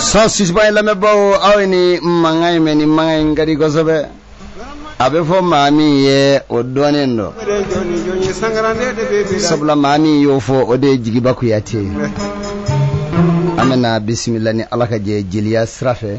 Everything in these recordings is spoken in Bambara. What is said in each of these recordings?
106 ba ye lamɛnbaaw aw ye nin mankan in mɛn nin mankan in ka di kosɛbɛ a bɛ fɔ maa min ye o dɔnnen don sabula maa min y'o fɔ o de ye jigiba kuyate ye an bɛna bisimila ni ala ka jɛ jeliya sira fɛ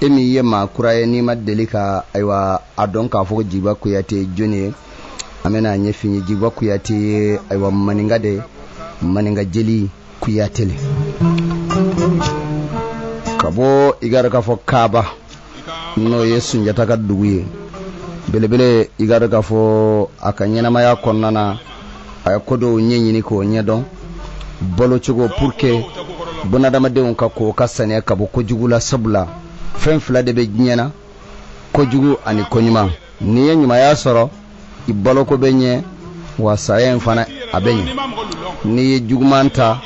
e min ye maa kura ye n'i ma deli ka ayiwa a dɔn k'a fɔ jigiba kuyate jɔni ye an bɛna a ɲɛf'i ye jigiba kuyate ye ayiwa maninka de maninka jeli kuyate le ka bɔ i k'a dɔn k'a fɔ kaaba n'o ye sunjata ka dugu ye belebele i k'a dɔn k'a fɔ a ka ɲɛnamaya kɔnɔna na a ye ko dɔw ɲɛɲini k'o ɲɛdɔn balocogo pour que bunadamadenw ka ko ka saniya ka bɔ kojugu la sabula fɛn fila de bɛ diɲɛ na kojugu ani koɲuman n'i ye ɲumanya sɔrɔ i baloko bɛ ɲɛ wa saya in fana a bɛ ɲɛ n'i ye juguman ta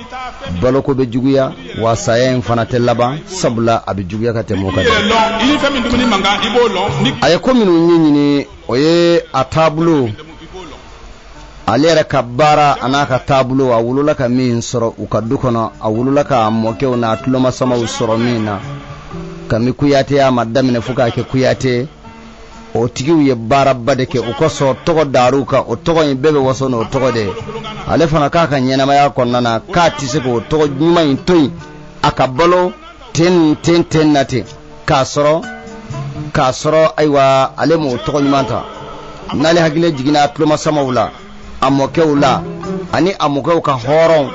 baloko bɛ juguya wa saya in fana tɛ laban sabula a bɛ juguya ka tɛmɛ o kan dɛ a ye ko minnu ɲɛɲini o ye a taabolo ale yɛrɛ ka baara an'a ka taabolo a wolola ka min sɔrɔ u ka du kɔnɔ a wolola k'a mɔkɛw n'a tulomasamaw sɔrɔ min na kami kuyateya ma daminɛ fo k'a kɛ kuyate o tigiw ye baaraba de kɛ o kosɔn tɔgɔ dara u kan o tɔgɔ in bɛɛ bɛ waso n'o tɔgɔ de ye ale fana k'a ka ɲɛnamaya kɔnɔna na k'a tɛ se k'o tɔgɔ ɲuman in to yen a ka balo ten ten ten na ten k'a sɔrɔ k'a sɔrɔ ayiwa ale m'o tɔgɔ ɲuman ta n'ale hakili jiginna tulomasamaw la a mɔkɛw la ani a mɔkɛw ka hɔrɔn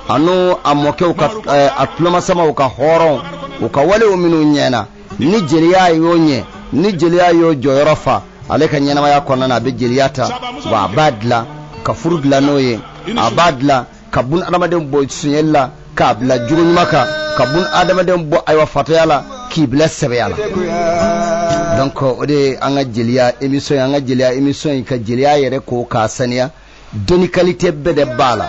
ani a mɔkɛw ka eh, a tulomasamaw ka hɔrɔnw u ka walew minnu ɲɛna ni jeliya y'o ɲɛ ni jeliya y'o jɔyɔrɔ fa ale ka ɲɛnamaya kɔnɔna na a bɛ jeliya ta wa a b'a dilan ka furu dilan n'o ye a b'a dilan ka bunadamaden bɔ sunyɛli la k'a bila jogo ɲuman kan ka bunadamaden bɔ ayiwa fatɔya la k'i bila sɛbɛya la donc o de ye an ka jeliya émission ye an ka jeliya émission ye ka jeliya yɛrɛ ko k'a saniya dɔnni kalite bɛɛ de b'a la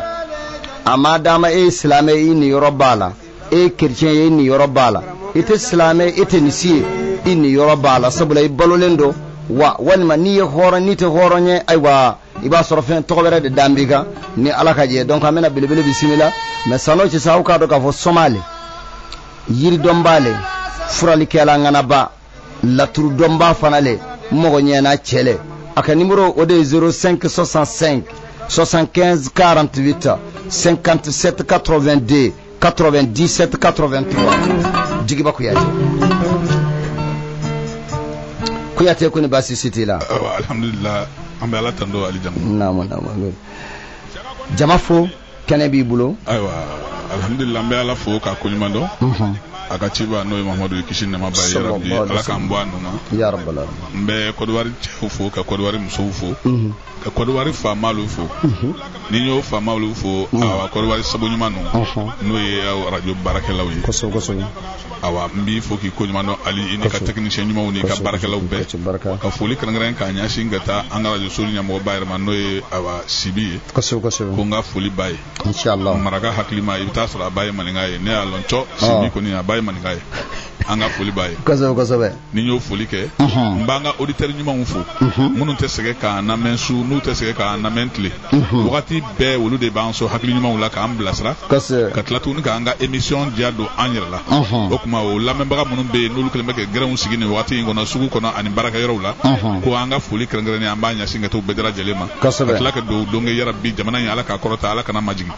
a ma dama e ye silamɛ i niyɔrɔ b'a la e ye kerecɛn ye i niyɔrɔ b'a la i tɛ silamɛ i tɛ nin si ye i niyɔrɔ b'a la sabula i balolen don wa walima n'i ye hɔrɔn n'i tɛ hɔrɔn ye ayiwa i b'a sɔrɔ fɛn tɔgɔ wɛrɛ de dalen b'i kan ni ala ka jɛ donc an bɛna belebele bisimila mais san'o cɛ sa aw k'a dɔn k'a fɔ soma le yiridɔnba le furalikɛla ŋanaba laturudɔnba fana le mɔgɔ ɲɛna cɛ le a ka nimɔrɔ o de ye 05 65 75 48 57 82 97 83 jigiba kuyate kuyate kɔni baasi si t'i la alhamdulillah an bɛ ala tando ali jamu naamu naamu jama fo kɛnɛ b'i bolo ayiwa alhamdulillah an bɛ ala fo k'a koɲuman dɔn mhm. a ka ciba n'o ye mamadu ye kisi ni nɛɛma b'a ye yarabi ala k'an bɔ a nun ma ya rabbal alamin n bɛ kɔdiwari cɛw fo ka kɔdiwari musow fo mhm. ka kɔdiwari faama olu fo mhm. ni n y'o faama olu fo mhm. awa kɔdiwari sabu ɲuman ninnu mhm. n'o ye arajo baarakɛlaw ye kosɛbɛ kosɛbɛ awa n b'i fo k'i koɲuman dɔn ali i n'i ka tɛkinisiyɛn ɲumanw n'i ka baarakɛlaw bɛɛ ka foli kɛrɛnkɛrɛn k'a ɲɛsin ka taa an ka arajo so ɲɛmɔgɔba yɛrɛ ma n'o ye awa sibi ye kosɛbɛ kosɛbɛ ko n ka foli b'a ye inshallah maraka hakilima i bɛ t'a sɔrɔ a ba ye maninka ye ne y'a lɔn cɔ sibi kɔni a ba ye maninka ye an ka foli b'a ye kosɛbɛ kosɛbɛ ni n y'o foli kɛ n b'an ka oditɛri ɲumanw fo minnu tɛ sɛgɛn k'an lamɛn su n'u tɛ sɛgɛn k'an lamɛn tile wagati bɛɛ olu de b'an sɔn hakili ɲumanw la k'an bilasira ka tila tuguni k'an ka emisiyɔn diya don an yɛrɛ la o tuma o lamɛnbaga minnu bɛ yen n'olu kɛlen bɛ ka gɛrɛnw sigi nin wagati in kɔnɔ sugu kɔnɔ ani baarakɛyɔrɔw la ko an ka foli kɛrɛnkɛrɛnnen an b'a ɲɛsin ka t'u bɛɛ lajɛlen ma ka tila ka dugawu don ko yarabi jamana in ala k'a kɔrɔta ala kan'a majigin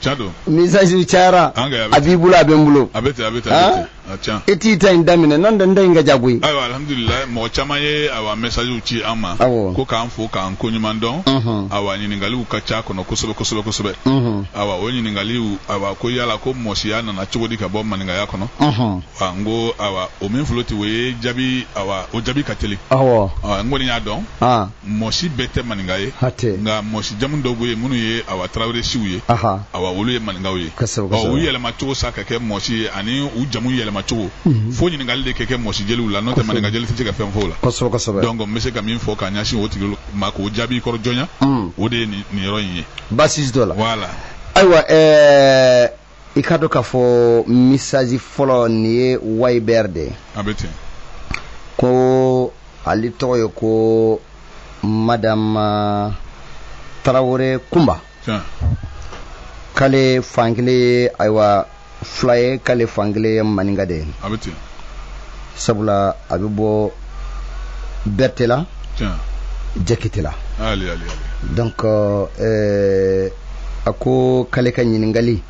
can don mɛsajiw cayara An ka- a b'i bolo a bɛ n bolo a bɛ ten a bɛ ten a bɛ ten a can i t'i ta in daminɛ n'o tɛ n ta in ka jan koyi ayiwa alhamdulilayi mɔgɔ caman ye awa mɛsajiw ci an ma Awɔ. ko k'an fo k'an koɲuman dɔn Unhun. awa ɲininkaliw ka ca a kɔnɔ kosɛbɛ kosɛbɛ kosɛbɛ Unhun. awa o ɲininkaliw awa ko yala ko mɔsiya nana cogo di ka bɔ maninkaya kɔnɔ Unhun. wa n ko awa o min filɛ o tɛ o ye jaabi awa o jaabi ka teli awɔ awa n kɔni y'a dɔn aa mɔsi bɛɛ tɛ maninka ye nka mɔsi jamu dɔw bɛ yen minnu ye awa tarawele siw ye awa olu ye maninkaw ye u yɛlɛmacogo sa ka kɛ mɔsi ye ani u jamu yɛlɛmacogo mhm. fo ɲininkali de ka kɛ mɔsi jeliw la n'o tɛ maninka jeli tɛ se ka fɛn fɔ o la donc n bɛ se ka min fɔ ka ɲɛsin o tigi ma k'o jaabi kɔrɔ jɔnya mhm. o de ye nin yɔrɔ in ye baasi t'o la voilà ayiwa ɛɛ i k'a dɔn k'a fɔ mɛsaji fɔlɔ nin ye wayibɛr de ye a bɛ ten ko ale tɔgɔ ye ko madama tarawele kunba tiɲɛ k'ale fankelen ye ayiwa fula ye k'ale fankelen ye maninka de ye a bɛ ten sabula a bɛ bɔ berete la tiɲɛ jakite la ali ali ali donc euh, a ko k'ale ka ɲininkali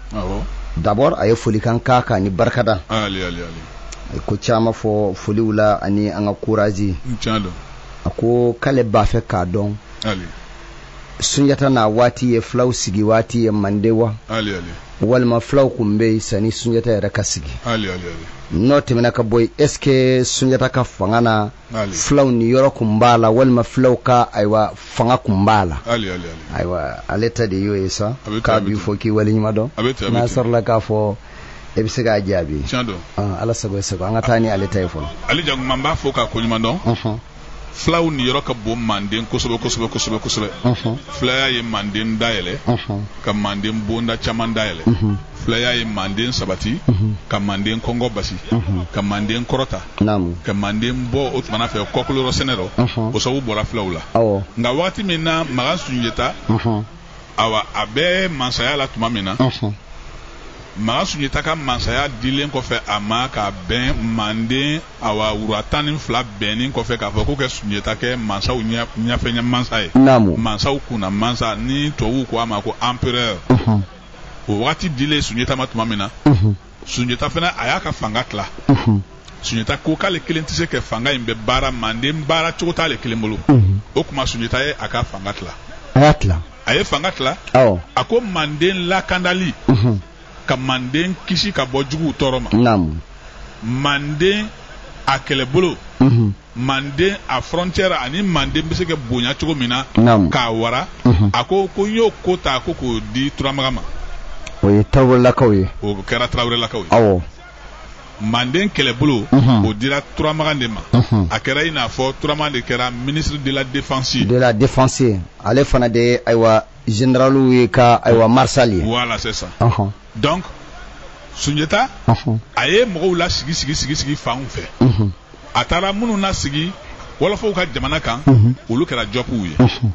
dabɔ a ye foli k'an ka kan ni barikada a ye ko caman fɔ foliw la ani an ka kurazi a ko k'ale b'a fɛ k'a dɔn sunjata na waati ye fulaw sigi waati ye mande wa walima fulaw tun bɛ yen sanni sunjata yɛrɛ ka sigi n'o tɛmɛna ka bɔ yen ɛsike sunjata ka fanga na fulaw niyɔrɔ kun b'a la walima fulaw ka ayiwa fanga kun b'a la ayiwa ale ta de y'o ye sa k'a b'i fo k'i waleɲuman dɔn n'a sɔrɔla k'a fɔ e bɛ se k'a jaabi ala sago e sago an ka taa ni ale ta ye fɔlɔ ali janguma n b'a fo k'a koɲuman dɔn fulaw niyɔrɔ ka bon manden kosɛbɛ kosɛbɛ kosɛbɛ kosɛbɛ fulaya ye manden dayɛlɛ ka manden bonda caman dayɛlɛ filaya ye manden sabati mhm. ka manden kɔngɔ basi mhm. ka manden kɔrɔta ka manden bɔ o tumana fɛ kɔkolorɔ sɛnɛ rɔ mhm. o sabu bɔra filaw la nka wagati min na magan sunjeta awa a bɛ mansaya la tuma min na magan sunjeta ka mansaya dilen kɔfɛ a ma ka bɛn manden awa wura tan ni fila bɛnnin kɔfɛ k'a fɔ ko kɛ sunjeta kɛ mansaw ɲɛfɛ ɲɛmansa ye mansaw kunna mansa ni tubabuw ko a ma ko empereur o wagati dilen sunjata ma tuma min na sunjata fana a y'a ka fanga tila sunjata ko k'ale kelen tɛ se ka fanga in bɛɛ baara manden baara cogo t'ale kelen bolo o tuma sunjata ye a ka fanga tila a y'a tila a ye fanga tila a ko manden lakandali ka manden kisi ka bɔ juguw tɔɔrɔ ma manden a kɛlɛbolo manden a frontière ani manden bɛ se ka bonya cogo min na k'a wara mhm. a ko ko n y'o ko ta ko k'o di turamagan ma o ye tarawelelakaw ye o kɛra tarawelelakaw ye awɔ manden kɛlɛbolo mhm. o dira turamagan de ma mhm. a kɛra i n'a fɔ turamagan de kɛra ministre de la défense ye de la défense ye ale fana de ye ayiwa généraliw ye ka ayiwa maréchal ye voilà c'est ça donc sunjata a ye mɔgɔw lasigi sigi sigi sigi fanw fɛ a taara minnu nasigi wɔlɔfɔw ka jamana kan mhm. olu kɛra jopuw ye mhm.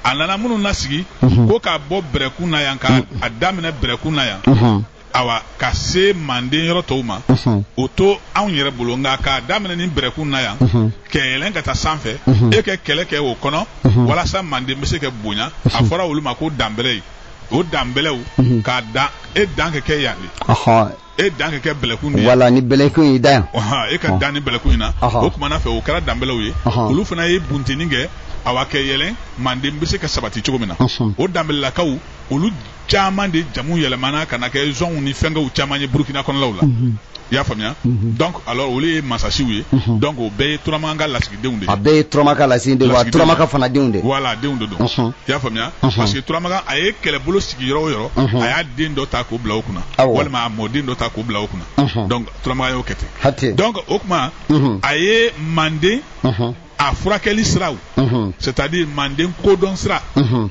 a nana minnu nasigi mhm. ko k'a bɔ bɛrɛkun na yan ka a daminɛ bɛrɛkun na yan awa ka se manden yɔrɔ tɔw ma o to anw yɛrɛ bolo nka k'a daminɛ ni bɛrɛkun na yan kɛ yɛlɛn ka taa sanfɛ e kɛ kɛlɛ kɛ o kɔnɔ walasa manden bɛ se ka bonya a fɔra olu ma ko danbɛrɛ ye o danbɛlɛw ka dan e dan kɛ kɛ yan de e dan ka kɛ bɛlɛkun de ye wala ni bɛlɛkun y'i dan yan ɔhɔn e ka dan ni bɛlɛkun in na Ɔhɔn. o kumana fɛ o kɛra danbɛlɛw ye Ɔhɔn. olu fana ye bunteni kɛ awa kɛ yɛlɛn manden bɛ se ka sabati cogo min na Ɔhɔn. o danbɛlɛlakaw olu caman de jamu yɛlɛmana ka na kɛ zɔnw ni fɛnkɛw caman ye burukina kɔnɔlaw la i y'a faamuya donc alors olu ye masasiw ye donc o bɛɛ ye turamagan ka lasigi denw de ye. A bɛɛ ye turamagan ka lasigidenw de ye wa turamagan fana denw de. Voilà denw de don. Unhun. I y'a faamuya. Unhun. Parce que turamagan a ye kɛlɛbolo sigi yɔrɔ o yɔrɔ. Unhun. A y'a den dɔ ta k'o bila o kunna. Awɔ. Walima a mɔden dɔ ta k'o bila o kunna. Unhun. Donc turamagan y'o kɛ ten. Hatɛ. Donc o tuma. Unhun. A ye manden. Unhun. A furakɛli siraw. Unhun. C'est à dire manden kodɔn sira. Unhun.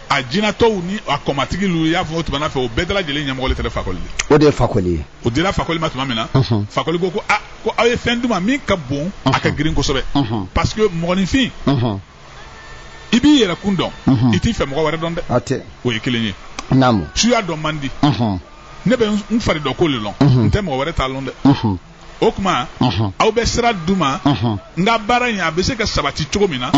a jinatɔw ni a kɔmatigi lu y'a fɔ o tumana fɛ o bɛɛ dalajɛlen ɲɛmɔgɔ le tɛrɛ fakoli di o de ye fakoli ye o dira fakoli ma tuma min na fakoli ko ko a ko aw ye fɛn di n ma min ka bon a ka girin kosɛbɛ parce que mɔgɔninfin i b'i yɛrɛ kun dɔn i t'i fɛ mɔgɔ wɛrɛ dɔn dɛ hatɛ o ye kelen ye naamu suya dɔn man di ne bɛ n fari dɔ ko le lɔn n tɛ mɔgɔ wɛrɛ ta lɔn dɛ o kuma aw bɛ sira di n ma n ka baara in a bɛ se ka sabati cogo min na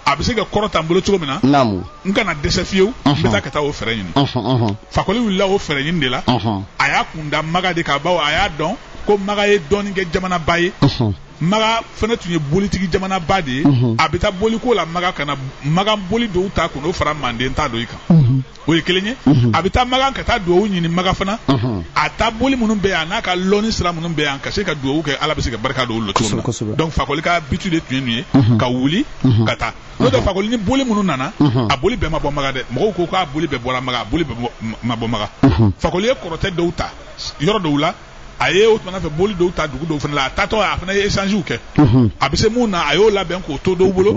a bɛ se ka kɔrɔta n bolo cogo min na naamu n kana dɛsɛ fiyewu n bɛ taa ka taa o fɛɛrɛ ɲini ɔhɔn ɔhɔn fakoli wulila o fɛɛrɛ ɲini de la ɔhɔn a y'a kun da maga de kan bawo a y'a dɔn ko maga ye dɔnnikɛ jamanaba ye ɔhɔn maga fana tun ye bolitigi jamanaba de ye Mhm. a bɛ taa boliko la maga ka na maga boli dɔw ta ka n'o fara manden ta dɔ i kan o ye kelen ye mhm. a bɛ taa maga ka taa dugawu ɲini maga fana mhm. a ta boli minnu bɛ yan n'a ka lɔnni sira minnu bɛ yan ka se ka dugawu kɛ ala bɛ se ka barika don olu la cogo min na donc fakoli ka bitu de tun ye nin ye mhm. ka wuli ka taa n'o tɛ fakoli ni boli minnu nana a boli bɛɛ ma bɔ maga dɛ mɔgɔw ko k'a boli bɛɛ bɔra maga a boli bɛɛ ma bɔ maga fakoli ye kɔrɔtɛ dɔw ta yɔrɔ dɔw la a ye o tumana fɛ boli dɔw ta dugu dɔw fana la a taatɔ a fana ye échangew kɛ a bɛ se min na a y'o labɛn k'o to dɔw bolo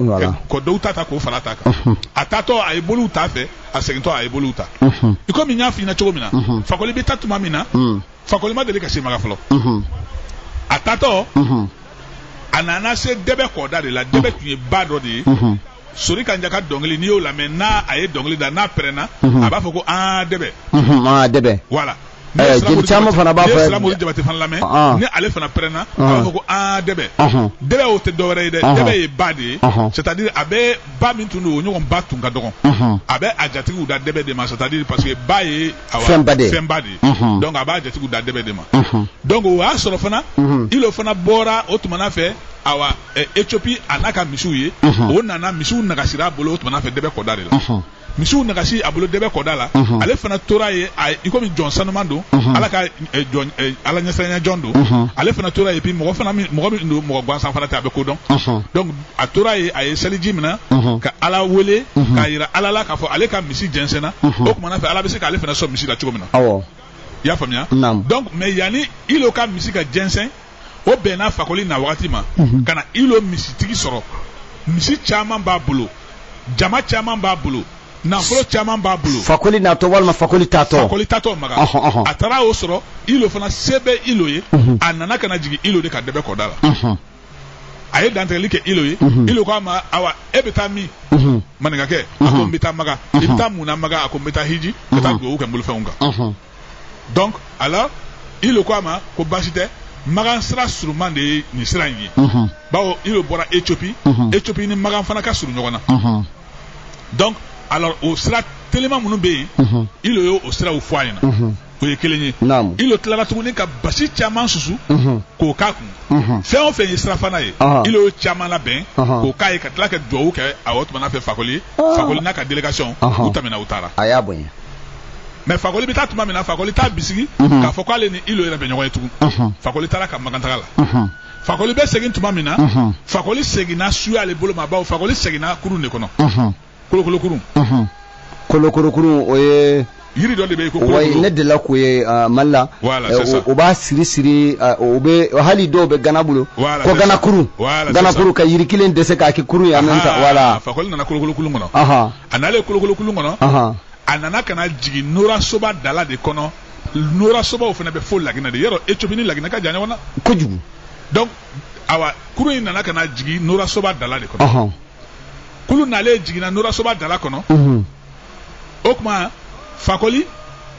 ka dɔw ta ta k'o fara a ta kan a taatɔ a ye boliw ta fɛ a segintɔ a ye boliw ta i komi n y'a f'i ɲɛna cogo min na fakoli bɛ taa tuma min na fakoli ma deli ka se maga fɔlɔ a taatɔ a nana se dɛbɛ kɔda de la dɛbɛ tun ye ba dɔ de ye sori kanja ka dɔnkili n'i y'o lamɛn n'a a ye dɔnkili da n'a pɛrɛnna a b'a fɔ ko aa dɛbɛ aa dɛbɛ voilà jeli caman fana b'a fɔ siramori jabate fana lamɛn ni ale fana pɛrɛnna a b'a fɔ ko aa dɛbɛ dɛbɛ o tɛ dɔwɛrɛ ye dɛ dɛbɛ ye ba de ye c'est à dire a bɛ ba min tun don o ɲɔgɔn ba tun ka dɔgɔn a bɛ a jatigiw da dɛbɛ de ma c'est à dire parce que ba ye fɛnba de ye donc a b'a jatigiw da dɛbɛ de ma donc o y'a sɔrɔ fana ilo fana bɔra o tumana fɛ awa Ethiopie a n'a ka misiw ye o nana misiw nagasira a bolo o tumana fɛ dɛbɛ kɔda de la misiw nagasi a bolo dɛbɛ kɔda la ale fana tora ye i komi jɔn sanuman don ala ka ala ɲɛsiranya jɔn don ale fana tora ye puis mɔgɔ fana mɔgɔ min don mɔgɔ gansan fana tɛ a bɛ ko dɔn donc a tora ye a ye seliji minɛ ka ala wele k'a yira ala la k'a fɔ ale ka misi jɛnsɛnna o kumana fɛ ala bɛ se k'ale fana sɔn misi la cogo min na i y'a faamuya donc mais yanni ilo ka misi ka jɛnsɛn o bɛnna fakoli na wagati ma mhm. ka na ilo misitigi sɔrɔ misi caman b'a bolo jama caman b'a bolo nafolo caman b'a bolo fakoli natɔ walima fakoli taatɔ fakoli taatɔ maga a taara o sɔrɔ ilo fana se bɛ ilo ye mhm. a nana ka na jigin ilo de kan dɛbɛ kɔda la mhm. a ye dantigɛli kɛ ilo ye mhm. ilo k'a ma awa e bɛ taa min maninkakɛ a ko n bɛ taa maga i bɛ taa mun na maga a ko n bɛ taa hiji ka taa dugawu kɛ n bolofɛnw kan donc alors ilo ko a ma ko baasi tɛ magan sira suruman de ye nin sira in ye bawo ilo bɔra ethiopie ethiopie ni magan fana ka surun ɲɔgɔn na donc alors o sira telima minnu bɛ yen ilo ye o siraw fɔ a ɲɛna o ye kelen ye ilo tilara tuguni ka basi caman susu k'o k'a kun fɛn o fɛn ye sirafana ye ilo ye caman labɛn k'o k'a ye ka tila ka duwawu kɛ a o tumana fɛ fakoli ye fakoli n'a ka délégation u tɛmɛna u taara mais fakoli bɛ taa tuma min na fakoli t'a bisigi mhm. k'a fɔ k'ale ni ilo yɛrɛ bɛ ɲɔgɔn ye tugun mhm. fakoli taara ka magantaga la mhm. fakoli bɛ segin tuma min na fakoli seginna suya ale bolo ma bawo fakoli seginna kurun de kɔnɔ kolokolokurun kolokolokurun o ye yiri dɔ de bɛ yen ko kolokolo ne delila k'o ye ah, mali la eh, o b'a siri siri ah, o bɛ hali dɔw bɛ gana bolo ko gana kurun gana kurun ka yiri kelen dɛsɛ k'a kɛ kurun ye en même temps voilà fakoli nana kolokolokurun kɔnɔ a nalen kolokolokulun kɔnɔ a nana ka na jigin norasoba dala de kɔnɔ norasobaw fana bɛ fo laginɛ de yɔrɔ ethiopie ni laginɛ ka jan ɲɔgɔn na kojugu donc awa kurun in nana ka na jigin norasoba dala de kɔnɔ kulun nalen jiginna norasoba dala kɔnɔ o tuma fakoli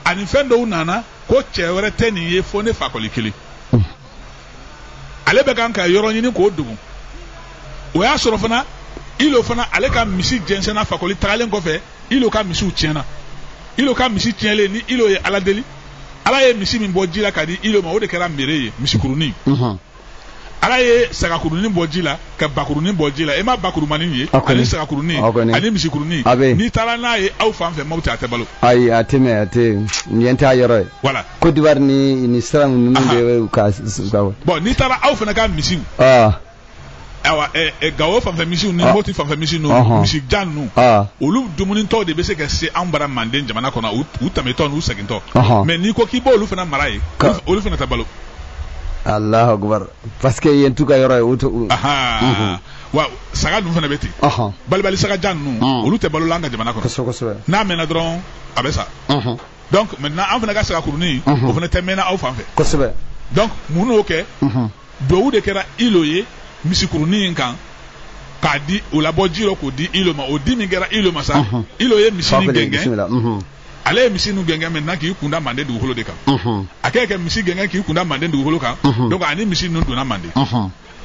ani fɛn dɔw nana ko cɛ wɛrɛ tɛ nin ye fo ne fakoli kelen ale bɛ kan ka yɔrɔ ɲini k'o dogo o y'a sɔrɔ fana ilo fana ale ka misi jɛnsɛnna fakoli tagalen kɔfɛ ilo ka misiw tiɲɛna ilo ka misi tiɲɛlen ni ilo ye ala deli ala ye misi min bɔ ji la ka di ilo ma o de kɛra mere ye misikurunin ala ye sagakurunin bɔ ji la ka bakurunin bɔ ji la e ma bakurumanin ye ani sagakurunin ani misikurunin n'i taara n'a ye aw fan fɛ maaw tɛ a tɛ balo ayi a tɛ mɛn a tɛ yen t'a yɔrɔ ye voilà Côte d'Ivoire ni ni sira ninnu de ka bon n'i taara aw fana ka misiw awa Gawo fanfɛ misiw ni Mopti fanfɛ misiw ninnu misi jan ninnu olu dumunitɔ de bɛ se ka se anw bara Manden jamana kɔnɔ u tɛmɛtɔ n'u segintɔ mais n'i ko k'i b'olu fana mara yen olu fana tɛ balo. Alahu akibaru parce que yen t'u ka yɔrɔ ye o tɛ u. wa saga ninnu fana bɛ ten balibali saga jan ninnu olu tɛ balo la an ka jamana kɔnɔ n'a mɛnna dɔrɔn a bɛ sa. donc maintenant an fana ka sagakurunin o fana tɛ mɛnna aw fan fɛ kosɛbɛ donc mun n'o kɛ duwawu de kɛra ilo ye misikurunin in kan k'a di o labɔ ji rɔ k'o di ilo ma o di min kɛra ilo ma sa ilo ye misi nin gɛngɛn ale ye misi nu gɛngɛn maintenant k'i kunda manden dugukolo de kan a kɛ kɛ misi gɛngɛn k'i kunda manden dugukolo kan donc ani misi ninnu donna manden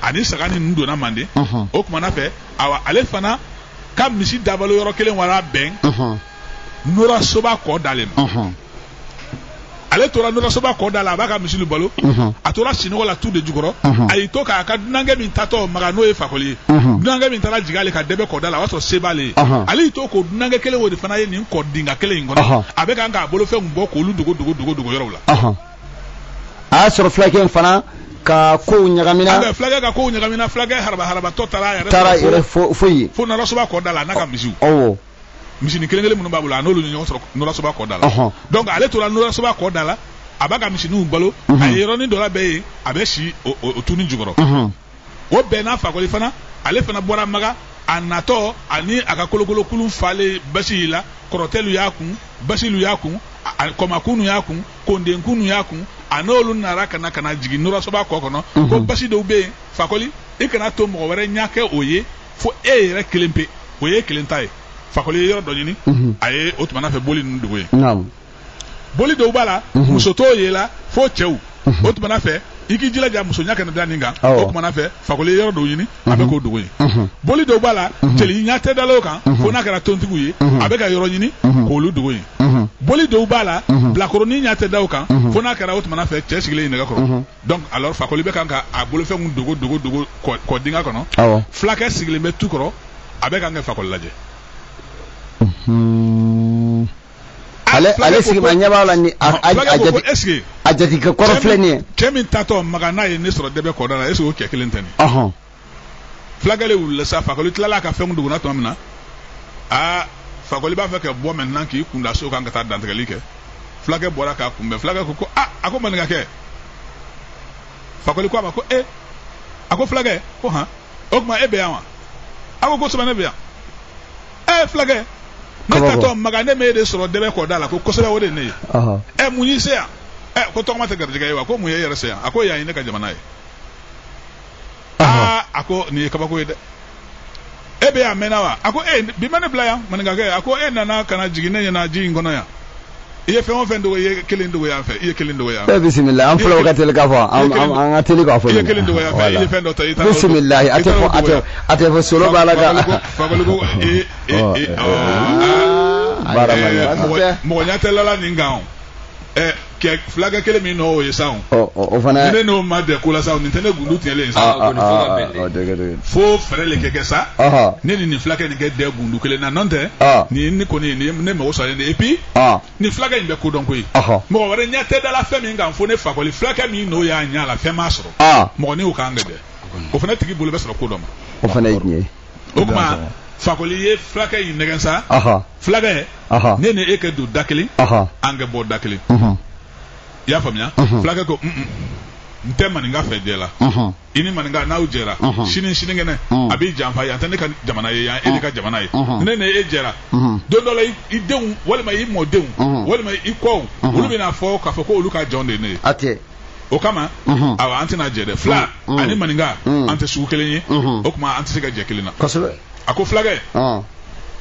ani saga ni ninnu donna manden o tumana fɛ awa ale fana ka misi dabalo yɔrɔ kelen wara bɛn nora soba kɔ da le ma ale tora nora soba kɔ da la a b'a ka misilu balo a tora sinɔgɔ la tu de jukɔrɔ a y'i to k'a ka dunankɛ min tatɔ maga n'o ye fakoli ye dunankɛ min taara jigin ale ka dɛbɛ kɔ da la o y'a sɔrɔ se b'ale ye ale y'i to k'o dunankɛ kelen o de fana ye nin kɔ dinga kelen in kɔnɔ a bɛ kan k'a bolofɛnw bɔ k'olu dogo dogo dogo dogo yɔrɔw la a y'a sɔrɔ fulakɛ in fana ka kow ɲagamina ah, fulakɛ ka kow ɲagamina fulakɛ haraba harabatɔ taara a yɛrɛ taara yɛrɛ foyi fo nora soba kɔ da la n'a ka misiw awɔ misini kelen kelen minnu b'a bolo a n'olu ɲɔgɔn sɔrɔ nora soba kɔ da la donc ale tora nora soba kɔ da la a b'a ka misiniw balo a ye yɔrɔnin dɔ labɛn yen a bɛ si o tunin jukɔrɔ o bɛnna fakoli fana ale fana bɔra maga a natɔ ani a ka kolokolokulun falen basi la kɔrɔtɛlu y'a kun basilu y'a kun kɔmakunnu y'a kun kondenkunnu y'a kun a n'olu nara ka na ka na jigin nora soba kɔ kɔnɔ mhm. ko basi dɔw bɛ yen fakoli i kana to mɔgɔ wɛrɛ ɲɛ ka o ye fo e yɛrɛ kelen pe o ye kelen ta ye fakoli ye yɔrɔ dɔ ɲini mhm. a ye o tumana fɛ boli ninnu dogo yen boli dɔw b'a la mhm. muso t'o yela fo cɛw mhm. o tumana fɛ i k'i jilaja muso ɲa kana da nin kan o tumana fɛ fakoli ye yɔrɔ dɔw ɲini a bɛ mhm. k'o dogo yen boli dɔw b'a la jeli ɲa tɛ dala o kan fo n'a kɛra tontigiw ye a bɛ ka yɔrɔ ɲini k'olu dogo yen boli dɔw b'a la bilakoronin ɲa tɛ da o kan fo n'a kɛra o tumana fɛ cɛ sigilen nɛgɛ kɔrɔ donc alors fakoli bɛ kan ka a bolofɛnw dogo dogo dogo kɔ dinga kɔnɔ fulakɛ sigilen bɛ tu kɔrɔ a bɛ kan ka fakoli lajɛ ale ale sigima ɲɛ b'a la ni a a a jate est-ce que a jatigikɛ kɔrɔ filɛ nin ye cɛ min tatɔ maga n'a ye ne sɔrɔ dɛbɛ kɔda la est-ce que o cɛ kelen tɛ nin ɔhɔn fulakɛ le wulila sa fakoli tilala ka fɛnw dogon na tuma min na aa fakoli b'a fɛ ka bɔ maintenant k'i kunda so kan ka taa dantigɛli kɛ fulakɛ bɔra k'a kunbɛn fulakɛ ko ko a a ko maninkakɛ fakoli ko a ma ko e a ko fulakɛ ko han o tuma e bɛ yan wa a ko kosɛbɛ ne bɛ yan ɛ fulakɛ ne tatɔ maga ne m'e de sɔrɔ dɛbɛ kɔda la ko kosɛbɛ o de ye ne ye ɛ mun y'i se yan ɛ ko tɔgɔma tɛ garijɛgɛ ye wa ko mun ye e yɛrɛ se yan a ko yan ye ne ka jamana ye aa a ko nin ye kabako ye dɛ e bɛ yan mɛnna wa a ko e bi ma ne bila yan maninkakɛ a ko e nana ka na jigin ne ɲɛna ji in kɔnɔ yan i ye fɛn o fɛn dogo i ye kelen dogo yan fɛ i ye kelen dogo yan fɛ. Eh, bisimila an fulaw ka teli k'a fɔ an an ka teli k'a fɔ. i ye kelen dogo yan fɛ i ye fɛn dɔ ta i taara. bisimila a tɛ fɔ a tɛ a tɛ fɔ solo b'a la ka. fakoli ko ee ee ee. mɔgɔ ɲɛ tɛ lala nin kan o ɛ kɛ fulakɛ kelen min n'o ye sa o. o fana. ne n'o ma dɛ ko la sa o nin tɛ ne gundu tigɛlen ye sa. fo fɛɛrɛ le ka kɛ sa. ne ni nin fulakɛ nin ka dɛ gundu kelen na n'o tɛ. nin ne kɔni ne mago sa ne et puis. Ah. nin fulakɛ in bɛ ko dɔn koyi mɔgɔ wɛrɛ ɲɛ tɛ da la fɛn min kan fo ne fakoli fulakɛ min n'o y'a ɲɛ la fɛn m'a sɔrɔ ah. mɔgɔ n'u kan gɛlɛn o fana tigi bolo bɛ sɔrɔ ko dɔ ma o fana ye tiɲɛ ye o tuma fakoli ye fulakɛ in nɛgɛn sa fulakɛ ne ni e ka don da kelen an ka bɔ da kelen i y'a faamuya fulakɛ ko n tɛ maninka fɛ jɛ la i ni maninka n'aw jɛra sini sinikɛnɛ a b'i janfa yan tɛ ne ka jamana ye yan e le ka jamana ye ne ni e jɛra don dɔ la i denw walima i mɔdenw walima i kɔw olu bɛna fɔ k'a fɔ ko olu ka jɔn de ye ne ye a tɛ o kama awa an tɛna jɛ dɛ fila ani maninka an tɛ sugu kelen ye o tuma an tɛ se ka jɛ kelen na kosɛbɛ a ko fulakɛ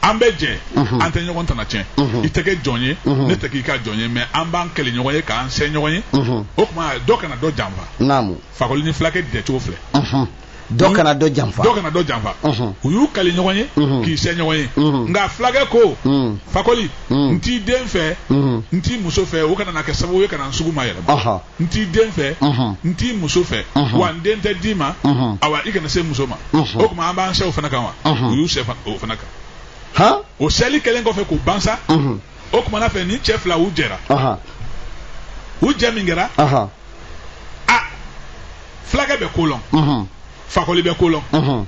an bɛ jɛ an tɛ ɲɔgɔn tana tiɲɛ i tɛ kɛ jɔn ye ne tɛ k'i ka jɔn ye mais an b'an kali ɲɔgɔn ye k'an sɛ ɲɔgɔn ye o tuma dɔ kana dɔ janfa fakoli ni fulakɛ dɛcogo filɛ dɔ kana dɔ janfa dɔ kana dɔ janfa u y'u kali ɲɔgɔn ye k'i sɛ ɲɔgɔn ye nka fulakɛ ko fakoli n t'i den fɛ n t'i muso fɛ o kana na kɛ sababu ye ka na n sugu mayɛlɛma n t'i den fɛ n t'i muso fɛ wa n den tɛ d'i ma awa i kana se n muso ma o tuma an b'an sɛ o fana kan wa u y'u sɛ o fana kan o sɛli kɛlen kɔfɛ k'o ban sa o kuma na fɛ nin cɛ fila u jɛra u jɛ min kɛra a fulakɛ bɛ ko lɔn mhm. fakoli bɛ ko lɔn mhm.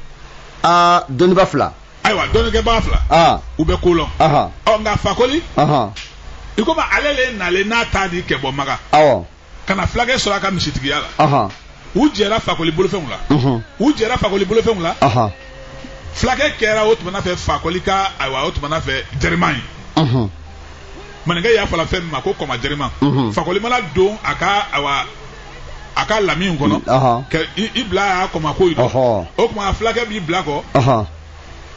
aa dɔnniba fila ayiwa dɔnnikɛbaga fila u bɛ ko lɔn ɔ nka fakoli i komi ale le nalen n'a ta di ka bɔ maka ka na fulakɛ sɔrɔ a ka misitigiya la u jɛra fakoli bolofɛnw la u jɛra fakoli bolofɛnw la fulakɛ kɛra o tuma na fɛ fakoli ka ayiwa o tuma na fɛ jɛrima ye maninka y'a fɔ la fɛn min ma ko kɔma jɛrima fakoli mana don a ka ayiwa a ka lami kɔnɔ ka i bila a kɔma koyi o tuma fulakɛ b'i bila kɔ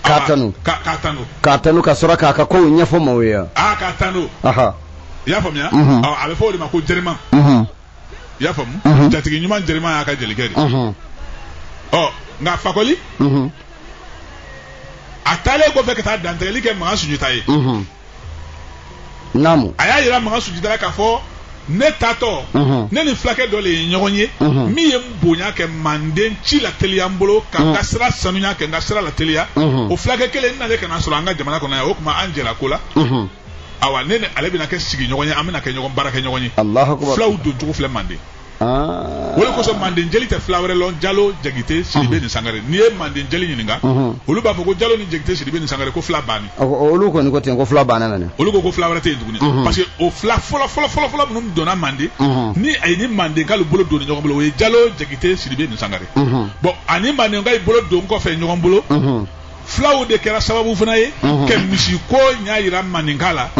k'a tanu ka k'a tanu k'a tanu ka sɔrɔ k'a ka kow ɲɛfɔ maaw ye yan aa k'a tanu aha i y'a faamuya Mhm. Ɔ, a bɛ fɔ o de ma ko jɛrima mhm i y'a faamu Mhm. jatigi ɲuman jɛrima y'a ka jelikɛ di mhm ɔ nka fakoli mhm a taalen kɔfɛ ka taa dantigɛli kɛ makan sunjata ye mhm naamu a y'a yira makan sunjata la k'a fɔ ne taatɔ mhm. ne ni fulakɛ dɔ de ye ɲɔgɔn ye mhm. min ye n bonya ka manden ci lateliya n bolo ka n ka mhm. sira sanuya ka n ka sira lateliya o fulakɛ kelen n nalen ka n'a sɔrɔ an ka jamana kɔnɔ yan o tuma an jɛla ko la awa ne ni ale bɛna kɛ sigiɲɔgɔn ye an bɛna kɛ ɲɔgɔn baarakɛɲɔgɔn ye fulaw doncogo filɛ manden o le kosɔn manden jeli tɛ fila wɛrɛ lɔn jalo jakite sidibe ni sangare n'i ye manden jeli ɲininka olu b'a fɔ ko jalo ni jakite sidibe ni sangare ko fila banni olu kɔni ko ten ko fila banna nana olu ko ko fila wɛrɛ tɛ yen tuguni parce que o fila fɔlɔ fɔlɔ fɔlɔ fɔlɔ minnu donna manden ni a ye ni mandenkalu bolo don ɲɔgɔn bolo o ye jalo jakite sidibe ni sangare bon ani mandenkalu bolo don kɔfɛ ɲɔgɔn bolo fulaw de kɛra sababu fana ye ka misiko ɲa yira maninka la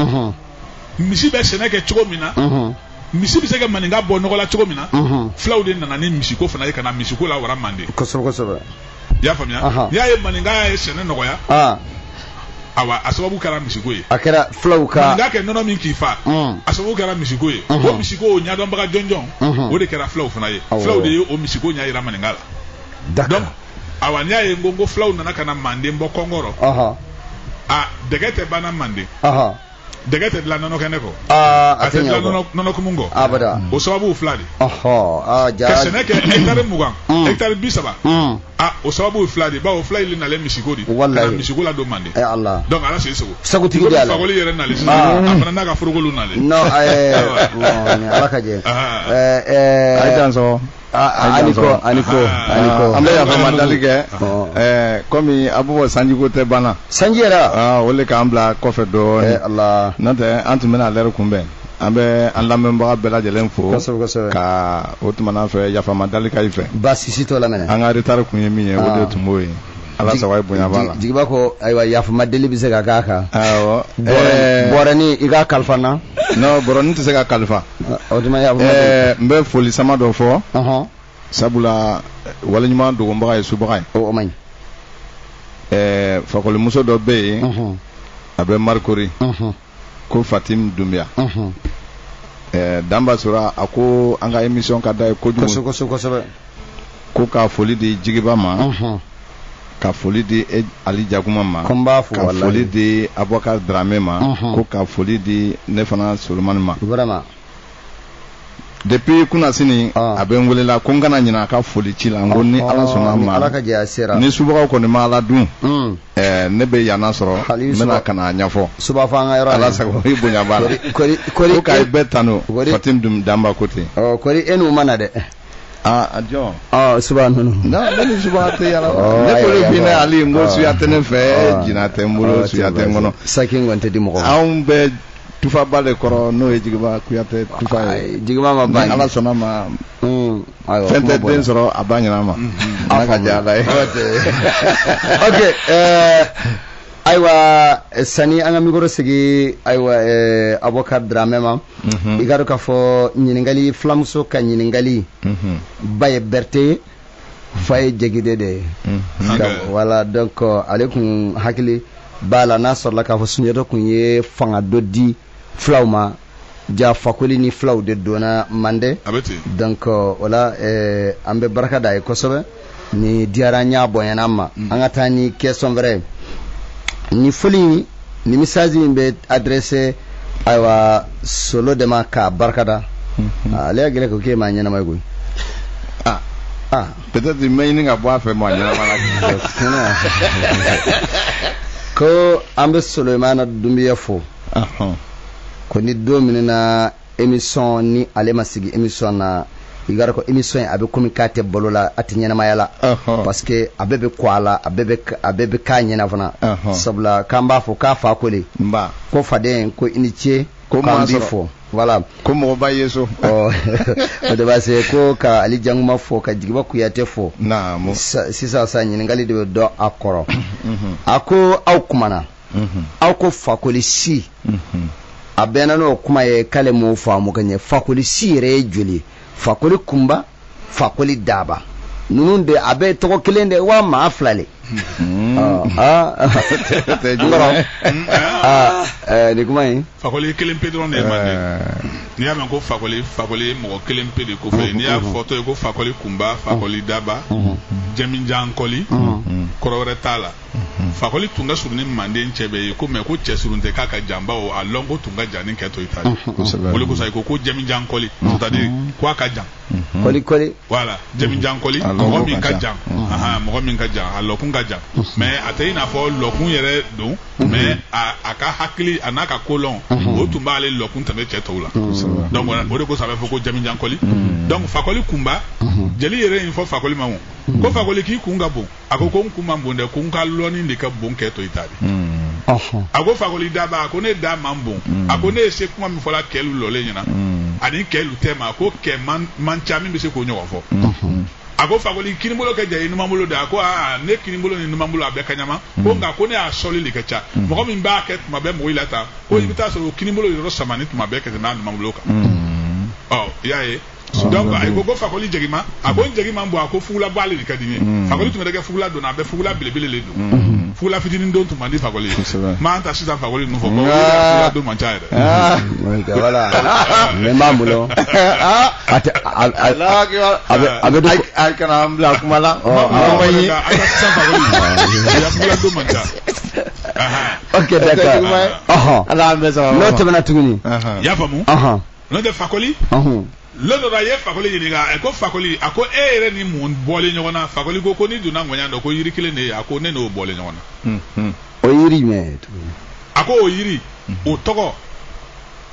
misi bɛ sɛnɛ kɛ cogo min na misi bɛ se ka maninka bɔ nɔgɔ la cogo min na fulaw de nana ni misiko fana ye ka na misiko lawara manden kosɛbɛ kosɛbɛ i y'a faamuya n'i y'a ye maninka ye sɛnɛ nɔgɔya awa a sababu kɛra misiko ye a kɛra fulaw maninka kɛ nɔnɔ min k'i fa a sababu kɛra misiko ye o misiko o ɲɛdɔnbaga jɔnjɔn o de kɛra fulaw fana ye fulaw de ye o misiko ɲa yira maninka la awa n'i y'a ye n ko n ko fulaw nana ka na manden bɔ kɔngɔ rɔ a dɛgɛ tɛ banna manden dɛgɛ tɛ dilan nɔnɔ kɛnɛ kɔ a tɛ dilan nɔnɔkumu kɔ abada o sababu fila de ka sɛnɛ kɛ hɛkitari mugan hɛkitari bi saba a o sababu fila de bawo fila le nalen misiko de ka na misiko ladon manden donc ala se segu sagotigi de ye ala fakoli yɛrɛ nalen sisan a fana n'a ka forokolu nalen non ala ka jɛ ɛɛ ɛɛ aniko aniko aniko an bɛ yafa madali kɛ ɛɛ kɔmi a bɛ fɔ sanjiko tɛ banna sanji yɛrɛ aa o le k'an bila kɔfɛ dɔɔnin ala n'o tɛ an tun bɛna lɛri kunbɛn an bɛ an lamɛnbaga bɛɛ lajɛlen fo kosɛbɛ kosɛbɛ ka o tumana fɛ yafa madali ka i fɛ baasi si t'o la mɛnɛ an ka retard kun ye min ye o de tun b'o ye ala sago ye bonya b'a la jigiba ko ayiwa yafama deli bɛ se ka k'a kan awɔ bɔrɛni i ka kalifa n na non bɔrɛni tɛ se ka kalifa o tuma yafama deli n bɛ foli sama dɔ fɔ sabula waleɲuman dogonbaga ye subaga ye o man ɲi fakolimuso dɔ bɛ yen a bɛ marcory ko fatim dunbiya mhm. eh, danba sora a ko an ka émission ka d'a ye kojugu ko ka foli di jigiba ma mhm. ka foli di e, ali jakuma ma ka foli di abubakar drame ma mhm. ko ka foli di ne fana solomani ma depuis kunasini ah. a bɛ n welela ko n kana ɲina a ka foli ci la n ko ni ala ah, sɔnn'a ma ala ka jɛ a sera ni subagaw kɔni ma ala dun hmm. eh, ne bɛ yanna sɔrɔ n bɛna ka na a ɲɛfɔ suba fɔ an ka yɔrɔ ala sago i bonya b'a la ko ka i bɛɛ tanu fatin danba ko ten kɔri e n'u ma na dɛ aa a jɔn ɔ suba ninnu non ne ni suba tɛ yala Ɔ, ne ayi, bolo ayi, bi ne ayi. ali n ko Ɔ. suya tɛ ne fɛ Ɔ. jina tɛ n bolo Ɔ, suya tɛ n kɔnɔ saki in kɔni tɛ di mɔgɔ ma anw bɛ tufaba de kɔrɔ n'o ye jigiba kuyate tufa ye Ayi, jigiba ma ban ala sɔnn'a ma Mm, ayiwa, fɛn tɛ den sɔrɔ a ba ɲɛnama ala ka diya ala ye ok eh, ayiwa eh, sani an ka mikoro sigi ayiwa eh, abubakar dramɛ ma i k'a dɔn k'a fɔ ɲininkali filamuso ka ɲininkali ba ye berete ye fa ye jakite de ye voilà donc ale kun hakili b'a la n'a sɔrɔla k'a fɔ sunjata kun ye fanga dɔ di filaw ma ja fakoli ni filaw de donna mande donc o la an bɛ barika d'a ye kosɛbɛ ni diyara n y'a bɔnyana ma mm. an ka taa ni question wɛrɛ ye ni foli ni message min bɛ adressé ayiwa solo de ma k'a barikada mm-hmm. ah, ale y'a gɛlɛ ko k'e maa ɲɛnama ye koyi ah. ah. peut-être n bɛ ɲini ka bɔ a fɛ maa ɲɛnama la ko an bɛ solomana dunbiya fo ko ni don min na émission ni ale ma sigi émission na i k'a dɔn ko émission in a bɛ komi k'a tɛ balo la a tɛ ɲɛnamaya la parce que a bɛɛ bɛ kɔ a la a bɛɛ bɛ k'a ɲɛna fana sabula k'an b'a fo k'a fa ko de ko faden ko i ni ce k'an b'i fo voilà ko mɔgɔ b'a ye so ɔ o de b'a se ko ka ali jankuma fo ka jigiba kuyatɛ fo sisan sa ɲininkali de bɛ dɔ a kɔrɔ a ko aw kumana mhm. aw ko fakoli si mhm. a bɛ na n'o kuma ye k'ale m'o faamu ka ɲɛ fakoli si yɛrɛ ye joli fakoli kunba fakoli daba ninnu de a bɛɛ tɔgɔ kelen de wa maa fila le mhm. ah, ah. ah, eh, nin kuma in fakoli kelen pe dɔrɔn de ye manden eh. n'i y'a mɛn ko fakoli fakoli ye mɔgɔ kelen pe de kɔfɛ n'i y'a fɔtɔ ye ko fakoli kunba fakoli daba jamijan koli kɔrɔ wɛrɛ t'a la mhm. fakoli tun ka surun ni manden cɛ bɛɛ ye ko mais ko cɛ surun tɛ k'a ka jan bawo a lɔnko tun ka jan ni kɛ tɔ i ta mhm. o de kosɔn ko ko jamijan koli mhm. c'est-à-dire ko a ka jan koli koli voilà jamijan koli mɔgɔ min ka jan mɔgɔ min ka jan a lɔkun ka jan mais a tɛ i n'a fɔ lɔkun yɛrɛ don mais a ka hakili a n'a ka kolɔn o tun b'ale lɔkun tɛmɛ cɛ tɔw la donc o de kosɔn a bɛ fɔ ko jamijan koli donc fakoli kunba jeli yɛrɛ in fɔ fakoli ma ko fakoli k'i kun ka bon a ko ko n kun man bon dɛ ko n ka lɔnni de ka bon kɛ tɔ i ta di a ko fakoli daba a ko ne da man bon a ko ne ye se kuma min fɔ la kɛlu lɔlen ɲɛ na ani kɛlu tɛma a ko kɛ man ca min bɛ se k'o ɲɔgɔn fɔ a ko fakoli kinibolo ka jan i numanbolo di a ko aa ne kinibolo ni numanbolo a bɛɛ kaɲama ko nka ko ne ya sɔli de ka ca mɔgɔ min b'a kɛ tuma bɛɛ mɔgɔ la ta ko i bɛ taa sɔrɔ o kinibolo yɔrɔ samani tuma bɛɛ ka tɛmɛ a numanbolo kan ɔ i y'a ye donc a ko ko fakoli jagima a ko n jagi man bon a ko fugulaba ale de ka di n ye mm. fakoli tun mana kɛ fugula don na a bɛ fugula belebele de don mm-hmm. fugula fitinin don tun man di fakoli ye mais an ta sisan fakoli ninnu fɔ fugula don man ca yɛrɛ. Ah. voilà ne m'a bolo ah. a tɛ a bɛ a bɛ don a kana an bila kuma la. Oh, oh. a ma ye a ka sisan fakoli a fugula don man ca. ok d'accord n'o tɛmɛna tuguni. i y'a faamu. n'o tɛ fakoli lon dɔ la a ye fakoli ɲininka a ko fakoli a ko e yɛrɛ ni mun bɔlen ɲɔgɔn na fakoli ko ko n'i donna ŋɔɲa dɔ ko yiri kelen de ye a ko ne n'o bɔlen ɲɔgɔn na o yiri min a ko o yiri o tɔgɔ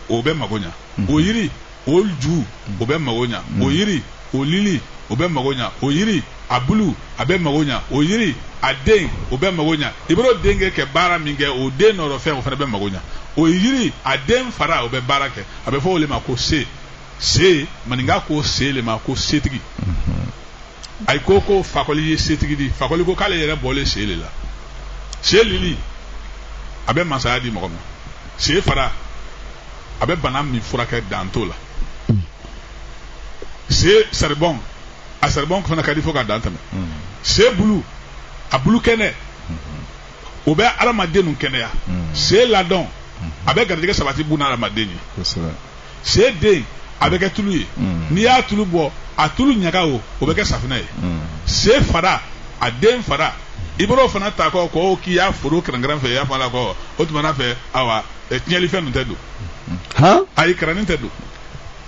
o bɛ mago ɲa o yiri o ju o bɛ mago ɲa o yiri o lili o bɛ mago ɲa o yiri a bulu a bɛ mago ɲa o yiri a den o bɛ mago ɲa i bɛr'o den kɛ kɛ baara min kɛ o den nɔrɔ fɛn o fana bɛ mago ɲa o yiri a den fara o bɛ baara kɛ a bɛ fɔ o le ma ko se se maninka ko se le ma ko setigi mm-hmm. ayi ko ko fakoli ye setigi di fakoli ko k'ale yɛrɛ bɔlen se le la se lili a bɛ masaya di mɔgɔ ma se fara a bɛ bana min furakɛ dan t'o la mm. se saribɔn a saribɔn fana ka di fo ka dan tɛmɛ se bulu a bulu kɛnɛ o bɛ adamaden nu kɛnɛya se ladɔn a bɛ garijɛgɛ sabati buna adamaden ye se den a bɛ kɛ tulu ye n'i y'a tulu bɔ a tulu ɲaga o o bɛ kɛ safina ye se fara a den fara i bɛr'o fana ta kɔ k'o k'i y'a foro kɛrɛnkɛrɛn fɛ i y'a fɔ a la kɔ o tuma na fɛ awa tiɲɛlifɛn ninnu tɛ don ayi kɛrɛnin tɛ don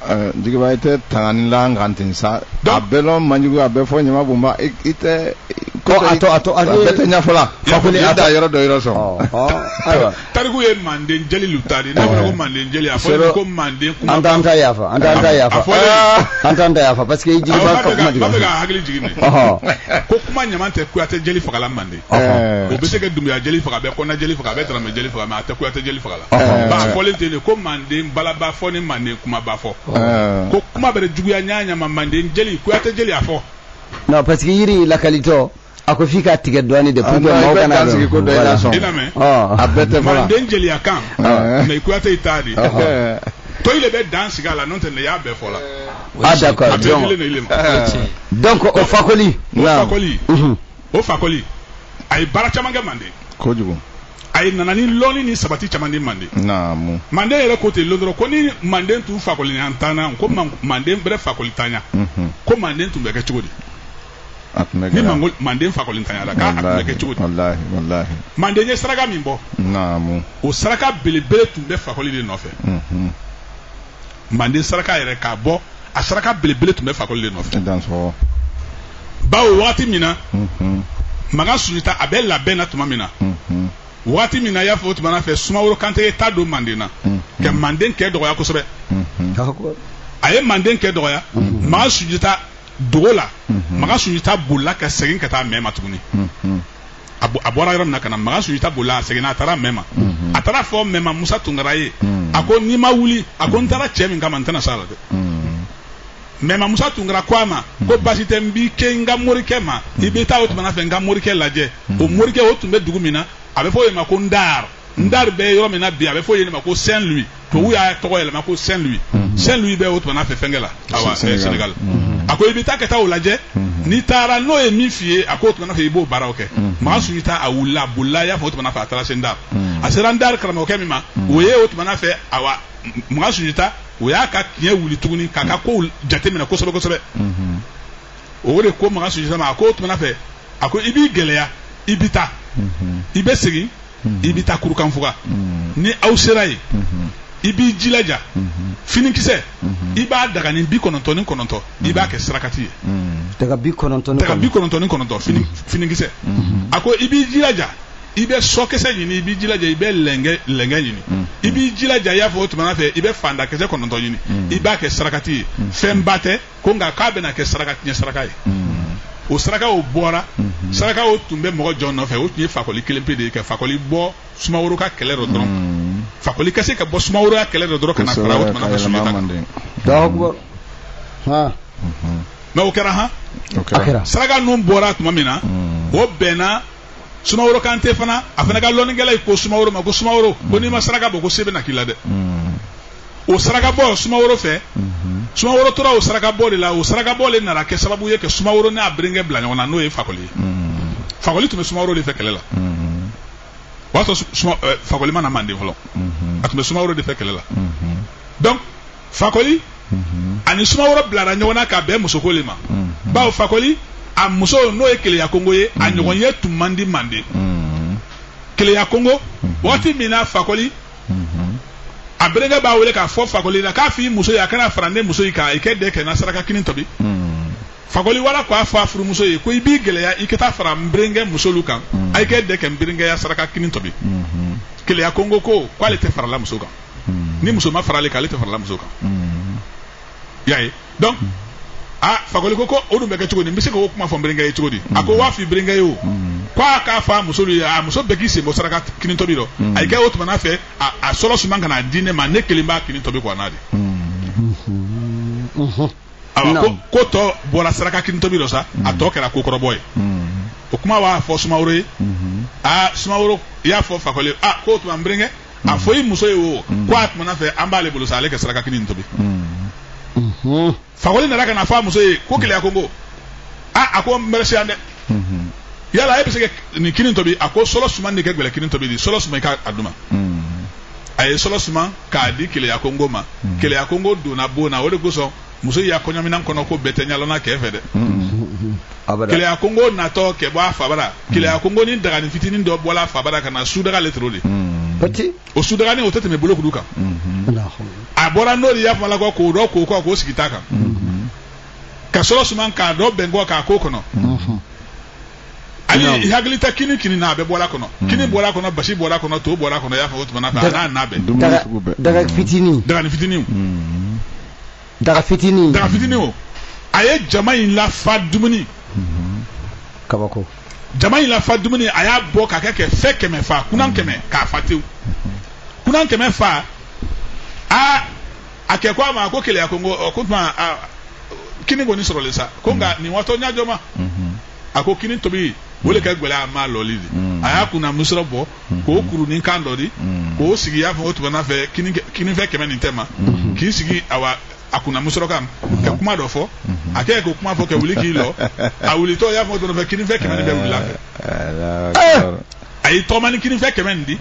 Eh, jigiba i tɛ tangani la n kan ten sa a bɛɛ lɔn man jugu a bɛɛ fɔ ɲama bonba i tɛ ko a to a to a bɛɛ tɛ ɲafɔ la fakoli a ta yɔrɔ dɔ yɔrɔ sɔn ayiwa tariku ye manden jeli lu ta di n'a fɔra ko eh. manden jeli a fɔra ko manden kuma an t'an ta yafa an t'an ta yafa ah. an t'an ta yafa parce que jigiba ka kuma jigin ba bɛ ka hakili jigin ne ko kuma ɲama tɛ kuyate jeli faga la manden o bɛ se ka dunbuya jeli faga bɛ kɔnɛ jeli faga bɛ daramɛ jeli faga a tɛ kuyate jeli faga la b'a fɔ le ten ko manden balaba fɔ ni manden kumaba fɔ ko kuma bɛrɛ juguya ɲa ɲa ma mande jeli kuyate jeli a fɔ non parce que yiri la qualité o a ko f'i ka tigɛ dɔɔnin de pour que maaw kana a bɛɛ tɛ fɔ la manden jeliya kan mais kuyate i ta di to i le bɛ dan sigi a la n'o tɛ ne y'a bɛɛ fɔ la ah d'accord donc o fakoli o fakoli o fakoli a ye baara caman kɛ manden kojugu a ye nana ni lɔnni ni sabati caman di manden naamu manden yɛrɛ ko ten lon dɔ rɔ ko ni manden tun fakoli an tanna ko man- manden bɛrɛ fakolintanya Mhm. ko manden tun bɛ kɛ cogo di ni mango- manden fakolintanyala k'a a tun bɛ kɛ cogo di walahi walahi manden ye saraka min bɔ naamu o saraka belebele tun bɛ fakoli de nɔfɛ Mhm. manden saraka yɛrɛ k'a bɔ a saraka belebele tun bɛ fakoli de nɔfɛ bawo waati min na mhm. makan sunjata a bɛ labɛn na tuma min na mhm. waati min na i y'a fɔ o tuma na fɛ sumaworo kante ye ta don manden na mhm. ka manden kɛ dɔgɔya kosɛbɛ a ye manden kɛ dɔgɔya makan sunjata dogola makan sunjata bolila ka segin ka taa mɛma tuguni a bɔra yɔrɔ min na ka na makan sunjata bolila a seginna a taara mɛma a taara a fɔ mɛma musa tunkara ye a ko n'i ma wuli a ko n taara cɛ min kama n tɛna s'a la dɛ mɛma musa tunkara ko a ma ko basi tɛ n b'i ke n ka morikɛ ma i bɛ taa o tuma na fɛ n ka morikɛ lajɛ o morikɛ o tun bɛ dugu min na a bɛ fɔ o de ma ko n dar ndar bɛ yɔrɔ min na bi a bɛ fɔ yen ma ko saint louis tubabu y'a tɔgɔ yɛlɛma ko saint louis mhm. saint louis bɛ o tuma fɛ fɛnkɛ la awa senegal mhm. a ko i bɛ taa ka taa o lajɛ mhm. n'i taara n'o ye min f'i ye a k'o tuma fɛ i b'o baaraw kɛ makan sunjata a wulila a bolila i y'a fɔ o tuma fɛ a taara se ndar a sera ndar karamɔgɔkɛ min ma o ye o tuma fɛ awa makan sunjata o y'a ka tiɲɛ wuli tuguni k'a ka kow jateminɛ kosɛbɛ kosɛbɛ o de ko makan sunjata ma a ko o tuma fɛ a ko i b'i gɛlɛya i bɛ taa i bɛ segin i bɛ taa kurukanfuga ni aw sera yen i b'i jilaja finikisɛ i b'a dagani bi kɔnɔntɔn ni kɔnɔntɔn i b'a kɛ sarakati ye daga bi kɔnɔntɔn ni kɔnɔntɔn finikisɛ a ko i b'i jilaja i bɛ sɔkisɛ ɲini i b'i jilaja i bɛ lɛngɛ ɲini i b'i jilaja i y'a fɔ o tuma fɛ i bɛ fandakisɛ kɔnɔntɔn ɲini i b'a kɛ sarakati ye fɛnba tɛ ko nka k'a bɛna kɛ saraka tiɲɛ saraka ye o sarakaw bɔra sarakaw tun bɛ mɔgɔ jɔn nɔfɛ o tun ye fakoli kelen pe de ye ka fakoli bɔ sumaworo ka kɛlɛ dɔ dɔrɔn fakoli ka se ka bɔ sumaworo ka kɛlɛ dɔ dɔrɔn ka na fara o tuma na sunjata mɛ o kɛra han saraka ninnu bɔra tuma min na o bɛnna sumaworo kante fana a fana ka lɔnnikɛla ye ko sumaworo ma ko sumaworo ko n'i ma saraka bɔ ko se bɛna k'i la dɛ o saraka bɔ sumaworo fɛ sumaworo tora o saraka bɔ de la o saraka bɔ le nana kɛ sababu ye ka sumaworo n'a berenkɛ bila ɲɔgɔn na n'o ye fakoli ye fakoli tun bɛ sumaworo de fɛ kɛlɛ la o y'a sɔrɔ fakoli ma na manden fɔlɔ a tun bɛ sumaworo de fɛ kɛlɛ la donc fakoli ani sumaworo bilara ɲɔgɔn na ka bɛn musoko le ma bawo fakoli a muso n'o ye keleya kongo ye a ɲɔgɔn ye tun man di manden keleya kongo waati min na fakoli a berenkɛ b'a wele k'a fɔ fakoli la k'a f'i muso ye a ka na fara ne muso yi kan i kɛ dɛ kɛ n ka saraka kini tobi fakoli wala k'a fɔ a furumuso ye ko i b'i gɛlɛya i ka taa fara n berenkɛ musolu kan a i kɛ dɛ kɛ n berenkɛ ya saraka kini tobi keleya kongo ko k'ale tɛ farala muso kan hmm. ni muso ma far'ale kan ale tɛ farala muso kan hmm. y'a ye donc hmm. a ah, fakoli ko ko o dun bɛ kɛ cogo di n bɛ se k'o kuma fɔ n berenkɛ ye cogo di a ko waa f'i berenkɛ ye o ko a k'a fɔ a musolu ye a muso bɛɛ k'i sen bɔ saraka kini tobi rɔ a y'i kɛ o tuma fɛ a sɔlɔ suma ka n'a di ne ma ne kelen b'a kini tobi kɔ a n'a de awa ko tɔ bɔra saraka kini tobi rɔ sa a tɔ kɛra ko kɔrɔbɔ ye o kuma b'a fɔ sumaworo ye aa sumaworo i y'a fɔ fakoli a k'o tuma n berenkɛ a fɔ i muso ye o ko a tuma fɛ an b'ale bolo sa ale kɛ saraka kini tobi fakoli nana ka na fɔ a muso ye ko keleya kongo aa a ko n bɛ se yan dɛ yala e bɛ se ka nin kini tobi a ko sɔlɔ suma de kɛ gɛlɛ kini tobi di sɔlɔ suma i k'a di n ma a ye sɔlɔ suma k'a di keleya kongo ma keleya kongo donna bon na o de kosɔn muso y'a kɔɲɔminan kɔnɔ ko bɛɛ tɛ ɲalɔnna kɛ fɛ dɛ keleya kongo natɔ kɛ bɔ a fabara keleya kongo ni dagani fitinin dɔ bɔla a fabara ka na sudaga le toro de o sudagani o tɛ tɛmɛ bolokuru kan a bɔra n'o de y'a fɔ la kɔ k'o dɔ k'o kɔ k'o sigi ta kan ka sɔrɔ suman k'a dɔ bɛn kɔ k'a k'o kɔnɔ ani Naam. i hakili ta kini kini na a bɛɛ bɔra kɔnɔ kini bɔra kɔnɔ basi bɔra kɔnɔ to bɔra kɔnɔ i y'a fɔ o tuma na a n'a na bɛɛ dumuni daga sugu bɛɛ daga fitinin dagani fitinin o daga fitinin daga fitinin o a ye jama in lafa dumuni kabako jama in lafa dumuni a y'a bɔ k'a kɛ kɛ fɛ kɛmɛ fa kunan kɛmɛ k'a fa tewu kunan kɛmɛ fa a a kɛ ko a ma ko keleya kongo ko tuma kini kɔni sɔrɔlen sa ko nka mm. nin waatɔ ɲa jɔn ma mm-hmm. a ko kini tobi o le ka mm. gɛlɛn a malɔli di mm. a y'a kunna musɔrɔ bɔ mm-hmm. k'o kurunin kan dɔ di k'o sigi y'a fɔ o tuma fɛ kini fɛ kɛmɛ nin tɛma mm-hmm. k'i sigi awa a kunna musɔrɔ kan ka kuma dɔ fɔ a kɛ k'o kuma fɔ ka wuli k'i lɔ a wulitɔ y'a fɔ o tuma fɛ kini fɛ kɛmɛ nin bɛɛ wuli a fɛ a y'i tɔgɔma ni kini fɛ kɛmɛ nin di.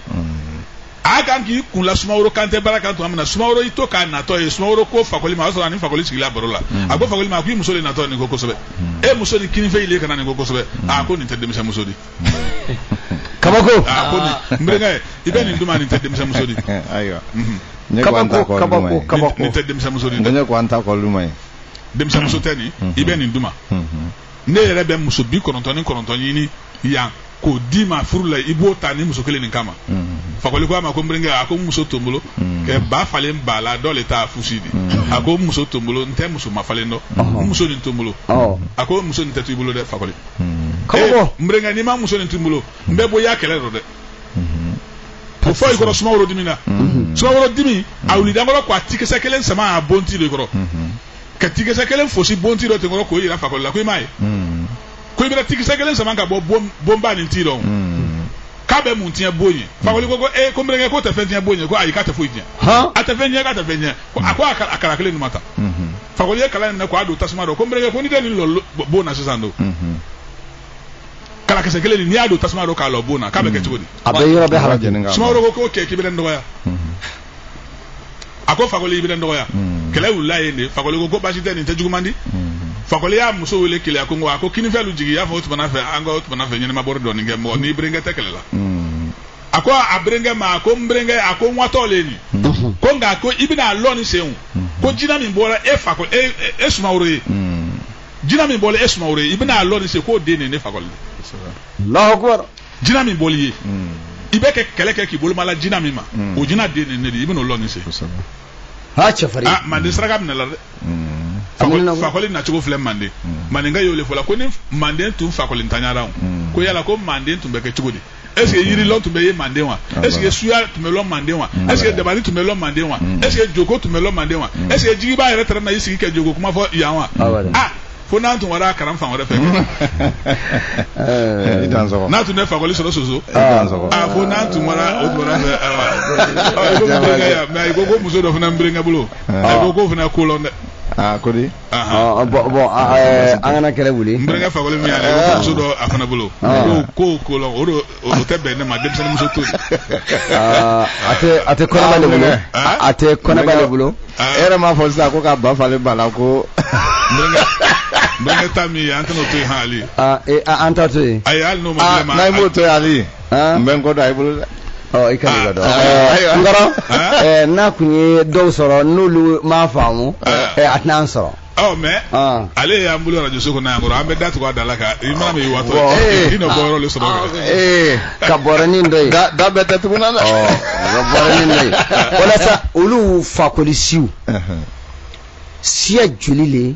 a kan k'i kun la sumaworo kantɛ bara kan tuma min na sumaworo y'i to k'a natɔ ye sumaworo ko fakoli ma o y'a sɔrɔ a ni fakoli sigila baro la hmm. a ko fakoli ma a ko i muso de natɔ nin ko kosɛbɛ hmm. e muso ni kinifɛ le kan na nin ko kosɛbɛ hmm. a ko nin tɛ denmisɛn muso di kabako a ko nin n berenkɛ i bɛ nin di n ma nin tɛ denmisɛn muso di ayiwa kabako kabako kabako nin tɛ denmisɛn muso di dɛ ne ko an ta kɔluma ye denmisɛn muso tɛ nin i bɛ nin di n ma ne yɛrɛ bɛ muso bi kɔnɔntɔn ni kɔnɔntɔn ɲini yan k'o d'i ma furu la i b'o ta ni muso kelen nin kama mm-hmm. fakoli ko a ma ko n berenkɛ a ko n muso to n bolo mm-hmm. kɛ ba falen ba la dɔ le t'a fusi di mm-hmm. a ko n muso to n bolo n tɛ muso mafalen dɔ uh-huh. n muso nin to n bolo oh. a ko muso nin tɛ to i bolo dɛ fakoli eh, n berenkɛ n'i ma muso nin to n bolo n bɛ bɔ i ya kɛlɛ dɔ dɛ o fɔ i kɔrɔ sumaworo dimina sumaworo dimi a wulida n kɔrɔ ko a tikisɛ kelen sama a bon ti de kɔrɔ ka tikisɛ kelen fosi bonti dɔ tɛmɛ k'o yira fakoli la ko i m'a ye hmm. ko i bɛna tikisɛ kelen sama ka bɔ bonba nin ti dɔ hmm. k'a bɛ mun tiɲɛ bon ye hmm. fakoli ko ko ee eh, ko n berenkɛ k'o tɛ fɛn tiɲɛ bon ye ko ayi k'a tɛ foyi tiɲɛ a tɛ fɛn tiɲɛ k'a tɛ fɛn tiɲɛ a ko a kala kelen nin ma ta fakoli ye kala in minɛ k'a don tasuma dɔ ko n berenkɛ ko ni tɛ nin lɔ bon na sisan don kalakisɛ kelen nin n'i y'a don tasuma dɔ k'a lɔ bon na k'a bɛ kɛ cogo di. a bɛ yɔrɔ bɛɛ halaki. sumaworo ko k'o kɛ k'i bɛ ne dɔgɔya. a ko fakoli i bɛ n dɔgɔya hmm. kɛlɛ wulila yen de fakoli ko ko baasi tɛ nin tɛ juguman di hmm. fakoli y'a muso wele keleya kongo a ko kinifɛ lu jigin i y'a fɔ o tuma fɛ an ka o tuma fɛ ɲɛnɛmabɔrɔ dɔɔnin kɛ mɔgɔ n'i berenkɛ tɛ kɛlɛ la hmm. a ko a berenkɛ ma a ko n berenkɛ a ko n watɔ le nin ko nka ko i bɛna a lɔn nin sen ko jina min bɔra e fakɔ e, e e sumaworo ye jina min bɔra e sumaworo ye i bɛna a lɔn nin sen k'o den de ye ne fakoli ye. jina min boli ye i bɛ kɛ kɛlɛ kɛ k'i boloma la jina min ma o jina den ne ne di i bɛn'o lɔni se ha cɛfarin ah manden saraka minala dɛ Fakɔli- Amina- fakɔli nacogo filɛ manden mandenka y'o le fɔ la ko ni manden tun fakɔli ntanyara o ko yala ko manden tun bɛ kɛ cogo di est ce que yirilɔn tun bɛ ye manden wa est ce que suya tun bɛ lɔn manden wa est ce que dabali tun bɛ lɔn manden wa est ce que joko tun bɛ lɔn manden wa est ce que jigibaa yɛrɛ tɛrɛ na i sigi kɛ joko kuma fɔ yan wa Ah, voilà. ah fo n'an tun wara kalan fan wɛrɛ fɛ eh, n'a tun tɛ fakɔli sɔrɔ soso ah. ah, fo n'an tun wara o tun wara fɛ ah. mɛ i ko ko muso dɔ fana n bɛnkɛ bolo a ko k'o fana ko lɔn dɛ aa ko di bɔn bɔn an kana kɛlɛ wuli n bɛnkɛ fakɔli min y'a la i ko muso dɔ a fana bolo ko k'o ko lɔn o don o tɛ bɛn ne ma denmisɛnninmuso to ah, a tɛ a tɛ kɔnɔba le bolo ah, a tɛ kɔnɔba le bolo ah. e yɛrɛ m'a fɔ sisan ko k'a ba falen ba la ko n bɛnkɛ ta min ye an tɛna o to yen hali e, an ta to yen ayi hali n'o ma dilan ma n'a ye m'o to yen hali n bɛ n kɔ don a ye bolo dɛ ɔ i ka nin ka dɔn n kɔrɔ n'a kun ye dɔw sɔrɔ n'olu m'a faamu a tɛna an sɔrɔ ɔ mɛ ah. ale y'an bolo arajoso kɔnɔ yan kɔrɔ an bɛ da tugu a da la ka i mana min watɔ ye i nɔ bɔ yɔrɔ le sɔrɔ kɛ. Eh, ka bɔrɛnin dɔ ye. da da bɛɛ tɛ tugun na dɛ. Oh, ka bɔrɛnin dɔ ye walasa olu fakoli siw siya joli le.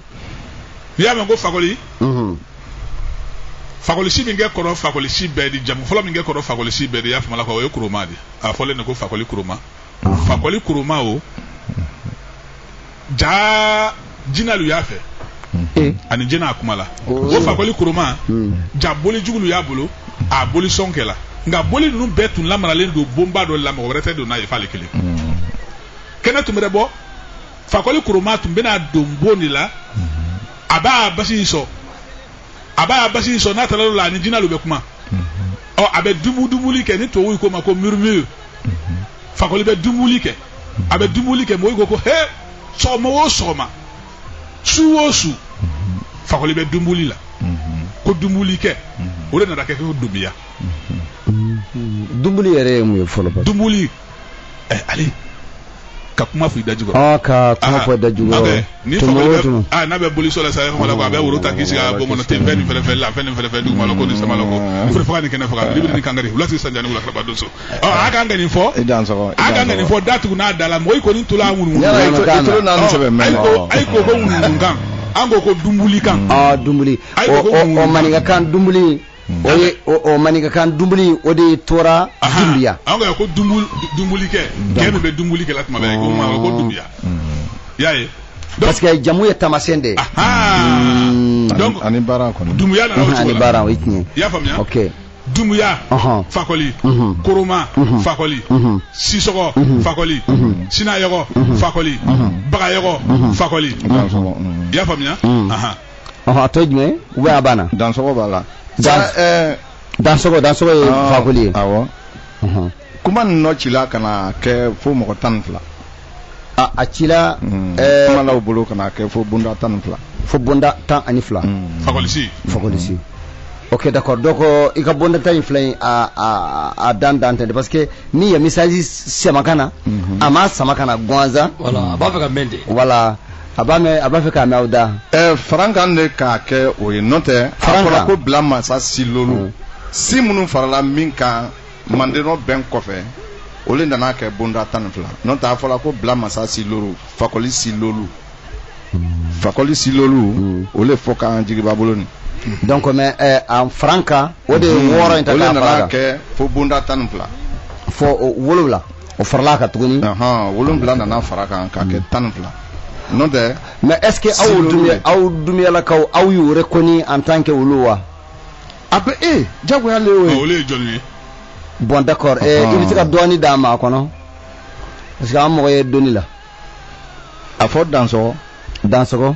n'i y'a mɛn ko fakoli. Mhm. fakolisi min kɛ kɔrɔ fakolisi bɛɛ di jamu fɔlɔ min kɛ kɔrɔ fakolisi bɛɛ di i y'a faamu la k'o ye kuruma de ye a fɔlen de ko fakoli kuruma fakoli kuruma o. jaa jinɛlu y'a fɛ eh. ani jinɛ a kuma la oh. o fakoli kuruma hmm. jaa boli jugulu y'a bolo a boli sɔn kɛ la nka boli ninnu bɛɛ tun lamaralen don bonba dɔ la mɔgɔ wɛrɛ tɛ don n'a ye f'ale kelen hmm. kɛnɛ tun mana bɔ fakoli kuruma tun bɛna don bon de la hmm. a b'a basi in sɔn a b'a basi in sɔn n'a tilala a ni jinɛlu bɛ kuma ɔ a bɛ dumbuli dumbuli kɛ ni tubabuw k'o ma ko murmure fakoli bɛ dumbuli kɛ a bɛ dumbuli kɛ mɔgɔw ko ko he sɔgɔma o sɔgɔma su o su fakoli bɛ dumbuli la ko dumbuli kɛ o de nana kɛ ko dumbiya dumbuli yɛrɛ ye mun ye fɔlɔ ba dumbuli ye ale ka kuma fɔ i da jukɔrɔ ka kuma fɔ i da jukɔrɔ ni fakoli bɛ a n'a bɛ boli sɔn na sa yɔrɔ la a bɛ woro ta k'i sigi a bon kɔnɔ ten fɛn nin fɛn la fɛn nin fɛn dugu ma la ko ni san ma la ko fure faga ni kɛnɛ faga libiri ni kankari wula sigi sanjani wula kaba don so ɔ a kan ka nin fɔ a kan ka nin fɔ da tugunin a da la mɔgɔ i kɔni tulo a ŋunu kan ayi ko ayi ko ko ŋunu kan an ko ko dumbuli kan aa dumbuli o maninkakan dumbuli o ye o maninkakan dumbuli o de tora dumbuya an ko ko dumbulikɛ kɛ nin bɛ dumbuli kɛla tuma bɛɛ ko maa ko dumbuya y'a ye parce que jamu ye tamasɛn de ye hmm. donc ani baara kɔni dumbuya nana o cogo la ani baara o ye tiɲɛ i y'a faamuya ok dumbuya fakɔli koroma fakɔli sisɔgɔ fakɔli sinayɔgɔ fakɔli bagayɔgɔ fakɔli i y'a faamuya ɔhɔn a tɔ ye jumɛnw ye a banna. dansogo b'a la. dan ɛɛ. dansogo dansogo ye ah, fakoli ye. awɔ. kuma nin nɔ cila ka na kɛ fo mɔgɔ tan ni fila. a a cila. Hmm. ɛɛ kumalaw bolo ka na kɛ fo bonda tan ni fila. fo bonda tan ani fila. Hmm. fakolisi. fakolisi. Hmm. ok d'accord donc euh, i ka bonda tan ni fila in a a a dan dan tɛ parce que min ye message sama ka na mm -hmm. a ma sama ka na gansan voilà a b'a fɛ k'a mɛn de voilà a b'a mɛn a b'a fɛ k'a mɛn aw da. ɛɛ farankan ne k'a kɛ o ye n'o tɛ a fɔra ko bila masa si lolu. Mm. si minnu farala min kan mandenɔ bɛn kɔfɛ o le nana kɛ bonda tan ni fila n'o tɛ a fɔra ko bila masa si lolu fakɔli si lolu. Mm. fakɔli si lolu mm. o le fɔ k'an jigiba bolo nin. donc mais ɛɛ a farankan o de ye wɔɔrɔ in ta k'a fara kan. o le nana kɛ fo bonda tan ni fila. fo wolonwula. o farala a kan tuguni wolonwula nana fara kan k'a kɛ tan ni fila n'o tɛ mais est-ce que aw dumuyalakaw aw y'u reconnu en tant que olu wa a bɛɛ jagoya le ye olu ye jɔn ye bon d'accord i bɛ se ka dɔɔni d'an ma a kɔnɔ parce que an mago ye dɔnni la a fɔ dansɔgɔ dansɔgɔ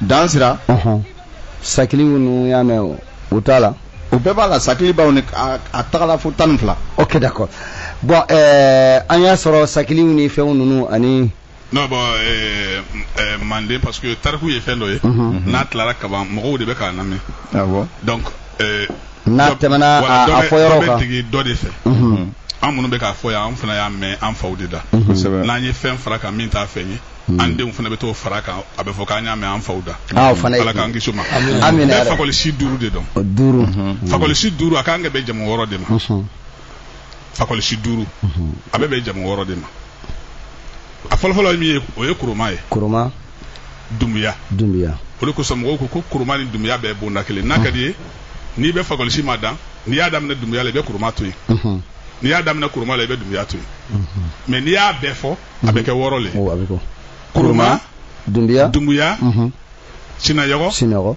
dansira sakiliw ninnu y'a mɛn o o t'a la o bɛɛ b'a la sakilibaw nin a tagala fo tan ni fila ok d'accord bon eh, an y'a sɔrɔ sakiliw ni fɛnw ninnu ani non bon eh, eh, manden parce que tariku ye fɛn dɔ ye mhm, mhm. n'a tilara kaban mɔgɔw de bɛ ka n'a mɛn donc n'a tɛmɛna a fɔyɔrɔ kan dɔ dɔ de fɛ mhm. an minnu bɛ k'a fɔ yan an fana y'a mɛn an faw de da mhm. n'an ye fɛn fara kan min t'a fɛn ye mhm. an denw fana bɛ t'o fara kan a bɛ fɔ k'an y'a mɛn an faw da ah, ala k'an kisi o ma bɛɛ fakɔlisi duuru de dɔn duuru fakɔlisi duuru a ka kan ka bɛn jamu wɔɔrɔ de ma fakɔlisi duuru a bɛ bɛn jamu wɔɔrɔ de ma a fɔlɔfɔlɔ ye min ye o ye kuruma ye kuruma dumbuya dumbuya o le kosɔn mɔgɔw ko ko kuruma ni dumbuya bɛɛ bonda kelen n'a ka d'i ye n'i bɛ fakɔlisi madan n'i y'a daminɛ dumbuya la i bɛ kuruma to yen n'i y'a daminɛ kuruma la i bɛ dumbuya to yen mais n'i y'a bɛɛ fɔ a bɛ kɛ wɔɔrɔ le kuruma dumbuya dumbuya sinayɔgɔ sinayɔgɔ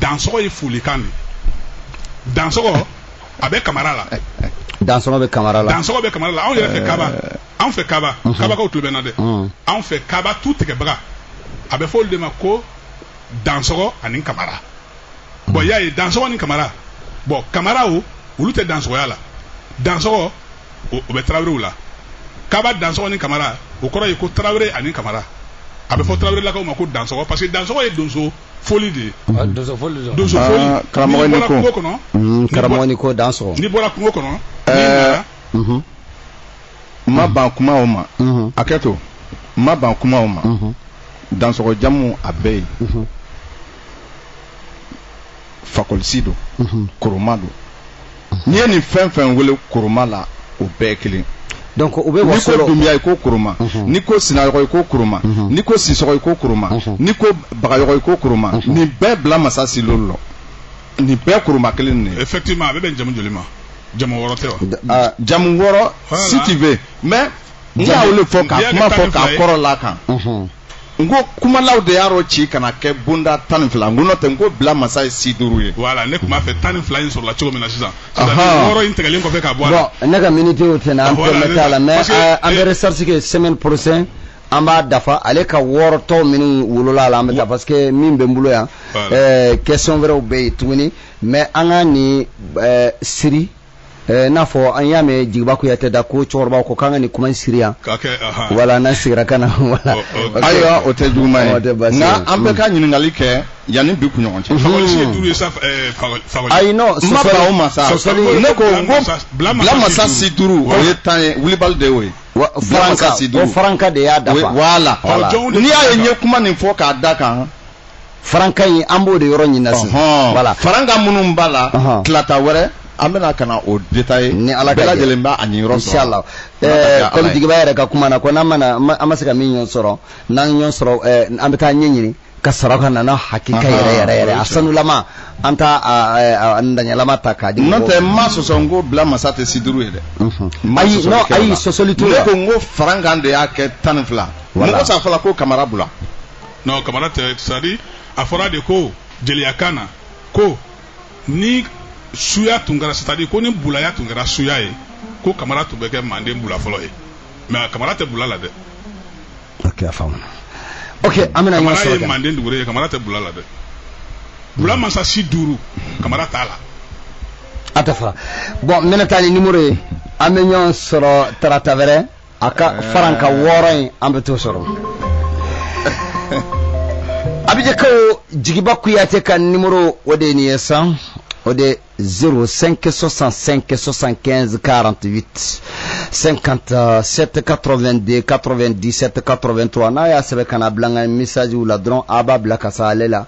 dansɔgɔ ye folikan de dansɔgɔ a bɛ kamara la dansɔgɔ bɛ kamara la dansɔgɔ bɛ kamara la anw yɛrɛ fɛ kaba anw fɛ kaba kabakaw tulo bɛ n na dɛ anw fɛ kaba tutigɛbaga a bɛ fɔ olu de ma ko dansɔgɔ ani kamara bon i y'a ye dansɔgɔ ni kamara bon kamaraw olu tɛ dansɔgɔya la dansɔgɔ o bɛ tarawelew la kaba dansɔgɔ ni kamara o kɔrɔ ye ko tarawele ani kamara a bɛ fɔ tarawele lakaw ma ko dansɔgɔ parce que dansɔgɔ ye donso foli de ye ah, donso foli de donso foli ah, karamɔgɔ n'i ko mm, karamɔgɔ n'i ko dansɔgɔ n'i bɔra kungo kɔnɔ eh, mhm. n ma ban kuma o ma mhm. hakɛto n ma ban kuma o ma mhm. dansɔgɔ jamu a bɛɛ ye fakoli si don koroma don n'i ye nin fɛn fɛn wele koroma la o bɛɛ kelen donc u bɛ waso n'i ko dunbiya i ko kuruma mhm. n'i ko sinayɔgɔ i ko kuruma mhm. n'i ko sisɔgɔ i ko kuruma mhm. n'i ko bagayɔgɔ i ko kuruma nin bɛɛ bila masa si loolu lɔ nin bɛɛ kuruma kelen ne effectivement a bɛ bɛn jamu joli ma jamu wɔɔrɔ tɛ wa ah, jamu wɔɔrɔ si tu veux mais n y'a wele fɔ k'a kuma fɔ k'a kɔrɔ la kan n ko kumalaw de y'a rɔci ka n'a kɛ bonda tan ni fila n ko n'o tɛ n ko bila masa ye si duuru ye. voilà ne tun b'a fɛ tan ni fila in sɔrɔla cogo min na sisan. wɔɔrɔ in tigɛlen kɔfɛ ka bɔ a la. bon ne ka miniti y'o tɛ na an tɛmɛ t'a la mais euh, an bɛ recherche kɛ semaine prochaine an b'a dafa ale ka wɔɔrɔ tɔw minnu wolola a la an bɛ taa parce que min bɛ n bolo yan question wɛrɛw bɛ yen tuguni mais an ka nin euh, siri. Eh, n'a fɔ an y'a mɛn jigiba kuyatɛ da ko cɛkɔrɔba ko k'an ka nin kuma in siri yan voilà n'an sigira ka na voilà ayiwa o tɛ juguman ye nka an bɛɛ ka ɲininkali kɛ yanni bi kunɲɔgɔn cɛ ayi non n ma ban o ma sa ne ko n ko bila masa si duuru o ye tiɲɛ ye wulibali de y'o ye farankan si duuru o farankan de y'a dafa voilà n'i y'a ye n ye kuma nin fɔ k'a da kan farankan in an b'o de yɔrɔ ɲinina sisan voilà farankan minnu b'a la talata wɛrɛ an bɛna ka na o détailler ni ala ka bɛɛ lajɛlen b'a a niyɔrɔ sɔrɔ inchallah ɛɛ comme jigiba yɛrɛ ka kuma na ko n'an mana an ma se ka min ɲɔgɔn sɔrɔ n'an ɲɔgɔn sɔrɔ ɛɛ an bɛ t'a ɲɛɲini ka sɔrɔ ka na n'a hakika yɛrɛ yɛrɛ yɛrɛ a sanulama an t'a a ntanyalama ta k'a di n'o tɛ n m'a sɔsɔ n ko bila masa tɛ si duuru ye dɛ ayi non ayi sɔsɔli t'o la ne ko n ko farankan de y'a kɛ tan ni fila mɔgɔ s'a fɔ la ko kamara bula non kamara tɛ c'est à dire a fɔra de ko jeliyakan na ko ni suya tun kɛra c'est à dire ko ni bulaya tun kɛra suya ye ko kamara tun bɛ kɛ manden bula fɔlɔ ye mais kamara tɛ bula la dɛ. ok a faamuna ok an bɛna ɲɔgɔn sɔrɔ kamara ye manden duguren ye kamara tɛ bula la dɛ bula masa si duuru kamara t'a la. a tɛ fara bon n bɛna taa ni numéro ye an bɛ ɲɔgɔn sɔrɔ tarata wɛrɛ. a ka faranka wɔɔrɔ in an bɛ t'o sɔrɔ abijankaw jigiba kuyate ka nimoro o de ye nin ye san o de 05 65 75 48 57 82 97 83 n'a y'a sɛbɛn ka na bila n ka message la dɔrɔn a b'a bila ka se ale la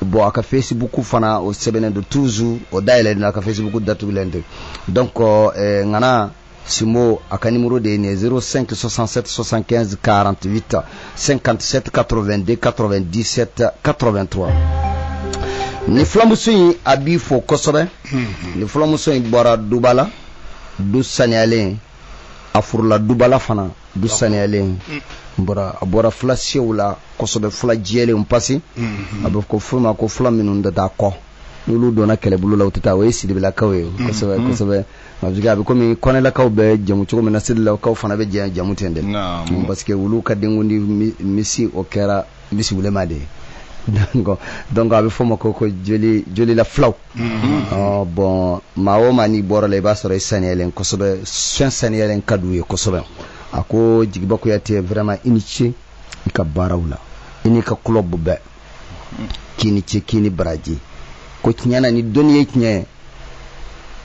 bon a ka facebook fana o sɛbɛnnen don toujours o dayɛlɛlen don a ka facebook datugulen tɛ donc eh, ŋana Simo a ka nimuru de ye nin z sen sɔsansansan karantigiwta sen kantisɛti katoro2den kato2disɛte kato2tura nin filamuso in a b'i fɔ kosɛbɛ nin filamuso in bɔra duba la du saniyalen a furula dubala fana du saniyalen a bɔra filasew la kosɛbɛ fila jɛlen pa a bɛ ko furu ma ko fila minnu dɔ da kɔ n donna kɛlɛbolo la u tɛ taa o ye sibilakaw ye a bɛ komi kɔnɛlakaw bɛ jamu cogo min na sidilakaw fana bɛ jɛ jamu ten dɛ parce que olu ka denkundi misi o kɛra misi wulema de ye donc a bɛ f'o ma ko ko jolila fulaw mm-hmm. bɔn maa o maa n'i bɔra la i b'a sɔrɔ i saniyalen kosɛbɛ fɛn saniyalen ka d'u ye kosɛbɛ a ko jigiba kuyate vraiment i ni ce i ka baaraw la i n'i ka club bɛɛ k'i ni ce k'i ni baraji ko tiɲɛ na ni dɔnni ye tiɲɛ ye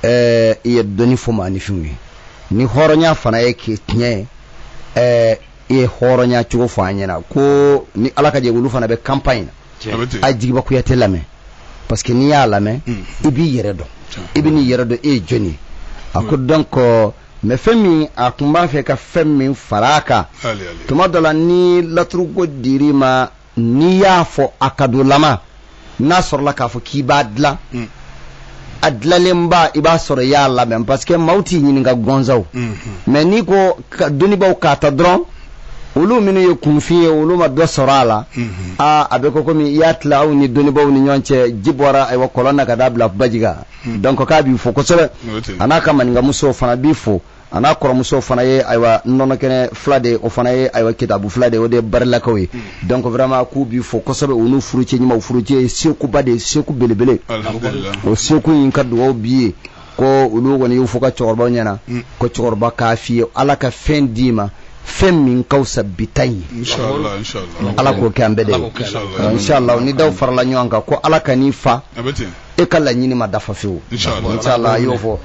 ɛɛ i ye dɔnni fɔ maaninfinw ye ni hɔrɔnya fana ye k'i tiɲɛ ye ɛɛ i ye hɔrɔnya cogo fɔ an ɲɛna ko ni ala ka jɛ olu fana bɛ campagne na a jigiba kuyate lamɛn parce que n'i y'a lamɛn mm. i b'i yɛrɛ dɔn i bɛ n'i yɛrɛ dɔn e ye jɔni ye a ko mm. donc mais fɛn min a tun b'a fɛ ka fɛn min fara a kan tuma dɔ la ni laturuko dir'i ma n'i y'a fɔ a kadolama n'a sɔrɔla k'a fɔ k'i b'a dilan mm. a dilanlenba i b'a sɔrɔ i y'a labɛn parce que maaw t'i ɲininka gɔnzaw mm-hmm. mais n'i ko dɔnnibaaw k'a ta dɔrɔn olu minnu ye kunfin ye olu ma dɔ sɔrɔ a la mm-hmm. aa a bɛ ko komi i y'a tila aw ni dɔnnibaaw ni ɲɔgɔn cɛ ji bɔra ayiwa kɔlɔn na ka taa bila baji kan mm. donc k'a b'i fo kosɛbɛ a n'a ka maninkamusow fana b'i fo a n'a kɔrɔmuso fana ye ayiwa nɔnɔkɛnɛ fila de o fana ye ayiwa kitabu fila de o de ye barilakaw ye mm. donc vraiment k'u b'i fo kosɛbɛ u n'u furucɛ ɲumanw furucɛ ye sekuba de ye seku belebele o seku in ka dugawu b'i ye ko olu kɔni y'u fo ka cɛkɔrɔbaw ɲɛna mm. ko cɛkɔrɔba k'a f'i ye ala ka fɛn d'i ma fɛn min ka fisa bi ta in ye ala k'o kɛ an bɛɛ de ye inshallah ni daw farala ɲɔgɔn kan ko ala ka n'i fa e ka laɲini ma dafa fewu inshallah a y'o fɔ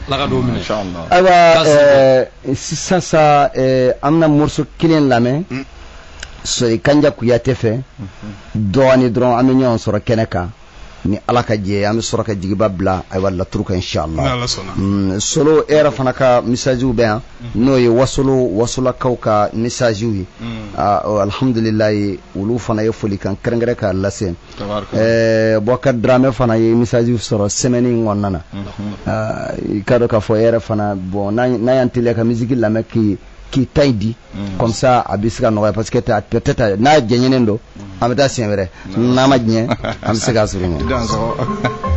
ayiwa eh, sisan sa eh, an bɛna morceau kelen lamɛn mm. sori kanja kuyate fɛ mm-hmm. dɔɔni dɔrɔn an bɛ ɲɔgɔn sɔrɔ kɛnɛ kan ni ala ka jɛ an bɛ sɔrɔ ka jigiba bila ayiwa laturu kan inshallah mm, solo e yɛrɛ fana ka messagew bɛ yan mm-hmm. n'o ye wasolo wasolakaw ka messagew ye mm. ah, oh, alhamdulilayi olu fana ye folikan kɛrɛnkɛrɛn k'a lase ɛɛ bɔkar dramɛ fana ye message sɔrɔ semaine in kɔnɔna na i ka dɔn k'a fɔ e yɛrɛ fana bon n'a y'an teliya ka musique lamɛn k'i k'i ta in di comme ça a bɛ se ka nɔgɔya parce que peut-être n'a janyanen don an bɛ taa siɲɛ wɛrɛ n'a ma janya an bɛ se k'a sɔrɔ ɲɛ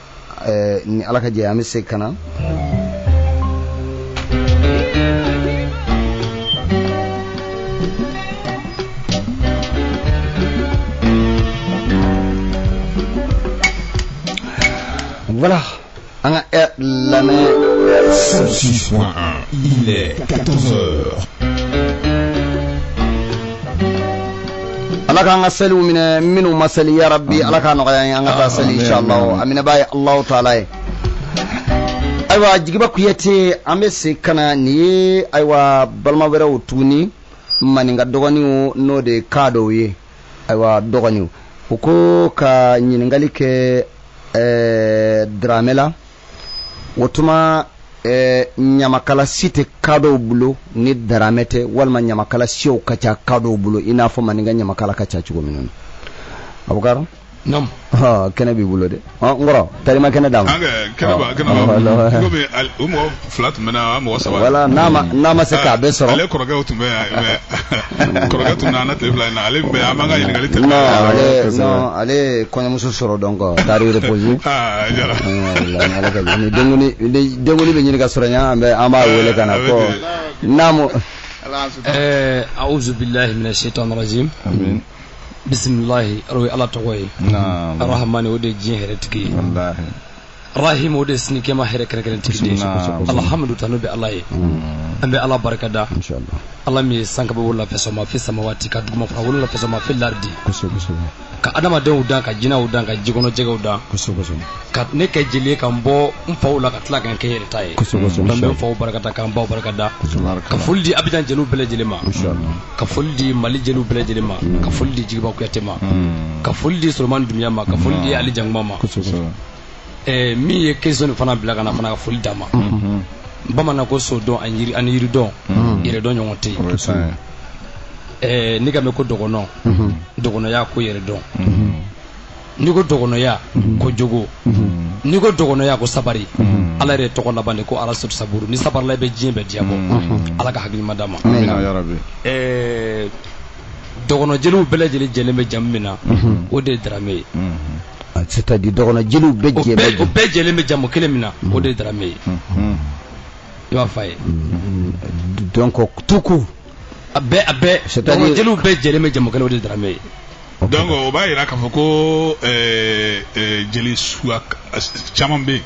ni ala ka jɛ an bɛ se ka na Voilà, an k'a lamɛn. 106.1, il est 14h. ala k'an ka seliw minɛ minnu ma seli ya rabbi ala k'a nɔgɔya an ka taa seli inshallah aminaba ye allahu taala ye ayiwa jigiba kuyate an bɛ se ka na nin ye ayiwa balima wɛrɛw tuguni maninka dɔgɔninw n'o de ye kadɔw ye ayiwa dɔgɔninw u ko ka ɲininkali kɛ ɛɛ daramɛ la o tuma eh, ɲamakala si tɛ kadɔw bolo ni daramɛ tɛ walima ɲamakala siw ka ca kadɔw bolo i n'a fɔ maninka ɲamakala ka ca cogo min na abukaro Nam. kɛnɛ b'i bolo dɛ n kɔrɔ tarima kɛnɛ d'a ma kɛnɛ b'a kɛnɛ b'a bolo. Komi o mɔgɔ fila tun bɛ na mɔgɔ saba voilà n'a ma n'a ma se k'a bɛɛ sɔrɔ ale kɔrɔkɛw tun bɛ yan kɔrɔkɛ tun nana tile fila in na ale tun bɛ an b'an ka ɲininkali tɛ non ale non ale ye kɔɲɔmuso sɔrɔ donc taari reposer aa jara ni denguni ni denguni bɛ ɲini ka sɔrɔ yan an bɛ an b'a wele ka na ko naamu ɛɛ awuzu bilahi mina seetan rajim amin bisimilahi o ye ala tɔgɔ ye arahamani o de ye diɲɛ hɛrɛ tigi ye Arahimu o de ye sini kiyama hɛrɛ kɛrɛnkɛrɛntigi de ye, kosɛbɛ, alihamudu tanu bɛ Ala ye, an bɛ Ala barikada, masha Allah, Ala min ye san kaba wolonwula fɛsɛnma fi samawati ka dugumafara wolonwula fɛsɛnma fi lardi, kosɛbɛ, kosɛbɛ, ka adamadenw dan ka jinɛw dan ka jikɔnɔjɛgɛw dan, kosɛbɛ, kosɛbɛ, ka ne kɛ jeli ye ka n bɔ n faw la ka tila ka n kɛ n yɛrɛ ta ye, kosɛbɛ, kosɛbɛ, n bɛ n faw barikada ka n baw barikada, ka foli di Abijan jeliw bɛɛ lajɛlen ma, masha Allah, ka foli di Mali jeliw bɛɛ lajɛlen ma, ka foli di Jigiba Kuyate ma, ka foli di Solomani Dunbiya ma, ka foli di Ali Jankuma ma, kosɛbɛ, kosɛbɛ. min ye question fana bila kana fana ka foli d'a ma bamanan ko so dɔn ani yiri dɔn yɛrɛ dɔn ɲɔgɔn tɛ n'i k'a mɛn ko dɔgɔnɔ dɔgɔnɔya ko yɛrɛ dɔn n'i ko dɔgɔnɔya ko jogo n'i ko dɔgɔnɔya ko sabari ala yɛrɛ tɔgɔ laban de ko arasidu saburu n'i sabarila i bɛ diɲɛ bɛɛ diyabɔ ala ka hakili ɲuman d'a ma dɔgɔnɔjeliw bɛɛ lajɛlen jɛlen bɛ jamu min na mhm. o de ye darame ye mhm. ah, c'est à dire dɔgɔnɔjeliw bɛɛ jɛlen bɛ o bɛɛ jɛlen bɛ jamu kelen min na mhm. o de ye darame ye i b'a fɔ a ye donc tout court a bɛɛ a bɛɛ dɔgɔnɔjeliw bɛɛ jɛlen bɛ jamu kelen o de ye darame ye donc o b'a jira k'a fɔ ko eh, eh, jeli suguya caman bɛ yen